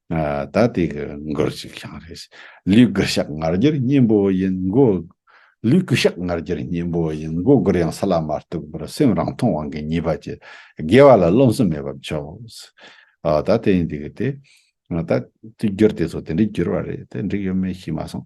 ད་དེ་གི་མགུར་ཅིག་ཤང་རེད། ལུས་སྐུ་ཤག་ངར་རྒྱུར་སྙིང་པོ་ཡིན་མགོ། ལུས་སྐུ་ཤག་ངར་རྒྱུར་སྙིང་པོ་ཡིན་མགོ་མགུར་ཡང་ས་ལ་མ་གཏུགས་པར་སེམས་རང་མཐོང་དབང་གིས་ཉེས་པ་བྱས། དགེ་བ་ལ་རློམ་སེམས་མེད་པར་བྱོས། ད་དེ་ཡིན་དེ་གི་དེ། ད་དེ་བསྒྱུར་དེ་ཚོ་དེ་འདྲའི་བསྒྱུར་བ་རེད་དེ་འགྲིག་ཡོད་མེད་ཤེས་མ་སོང།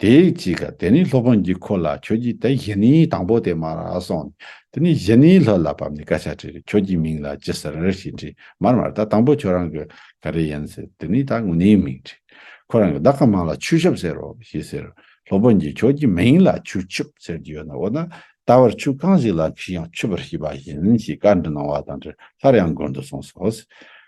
དེ་གཅིག་ག་དེ་ནས་ལྷོ་བོན་གྱིས་ཁོ་ལ་ཁྱོད་ཀྱིས་དེ་བཞི་ནི་དང་པོ་དེ་མར་ར་སོང་ནས་དེ་ནས་བཞི་ནི་ལྷོད་ལ་བབས་ནས་སྐད་ཆ་དྲིས་ཁྱོད་ཀྱི་མིང་ལ་ཅི་ཟེར་རེད་ཞེས་དྲིས་མར་མར་ད་དང་པོ་ཁྱོད་རང་གི་ག་རེ་ཡིན་ཟེར་དེ་ནས་ད་དངོས་གནས་མིང་དྲིས་ཁོ་རང་གི་བདག་གི་མིང་ལ་ཆུ་ཤོབ་ཟེར་རོ་ཞེས་ཟེར་ལྷོ་བོན་གྱིས་ཁྱོད་ཀྱི་མིང་ལ་ཆུ་ཆུབ་ཟེར་གྱི་ཡོད་ན་འོ་ན་ད་བར་ཆུ་གང་ཞིག་ལ་ཁོས་ཡང་ཆུབ་པར་བྱས་པ་ཡིན་ཞེས་བཀའ་འདྲི་གནང་བ་དང་འབྲེལ་སླར་ཡང་དགོན་དུ་སོང་ཟོག་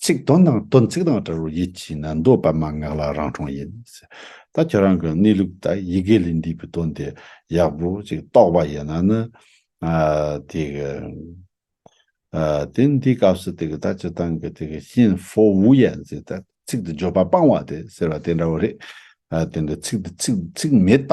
ཚིག་དོན་དང་དོན་ཚིག་དང་སྒྲ་རུ་ཡིད་ཀྱིས་ནི་འདོད་པ་མ་ངག་ལ་རང་གྲོང་ཡིན། ད་ཁྱེད་རང་གི་གནས་ལུགས་ལྟར་ཡི་གེ་ལས་འདས་པའི་དོན་དེ་ཡག་པོ་ཅིག་རྟོགས་པ་ཡིན་ན་ནི། དེ་ནི་དེའི་སྐབས་སུ་དེ་ད་ཅི་དང་གི་དེ་ཤིན་ཧྥོ་ཝུ་ཡན་ཛི་ད་ཚིག་དེ་བརྗོད་པ་སྤང་བ་དེ་ཟེར་བ་དེ་འདྲ་བོ་རེད། དེ་འདྲ་ཚིག་དེ་ཚིག་མེད་པ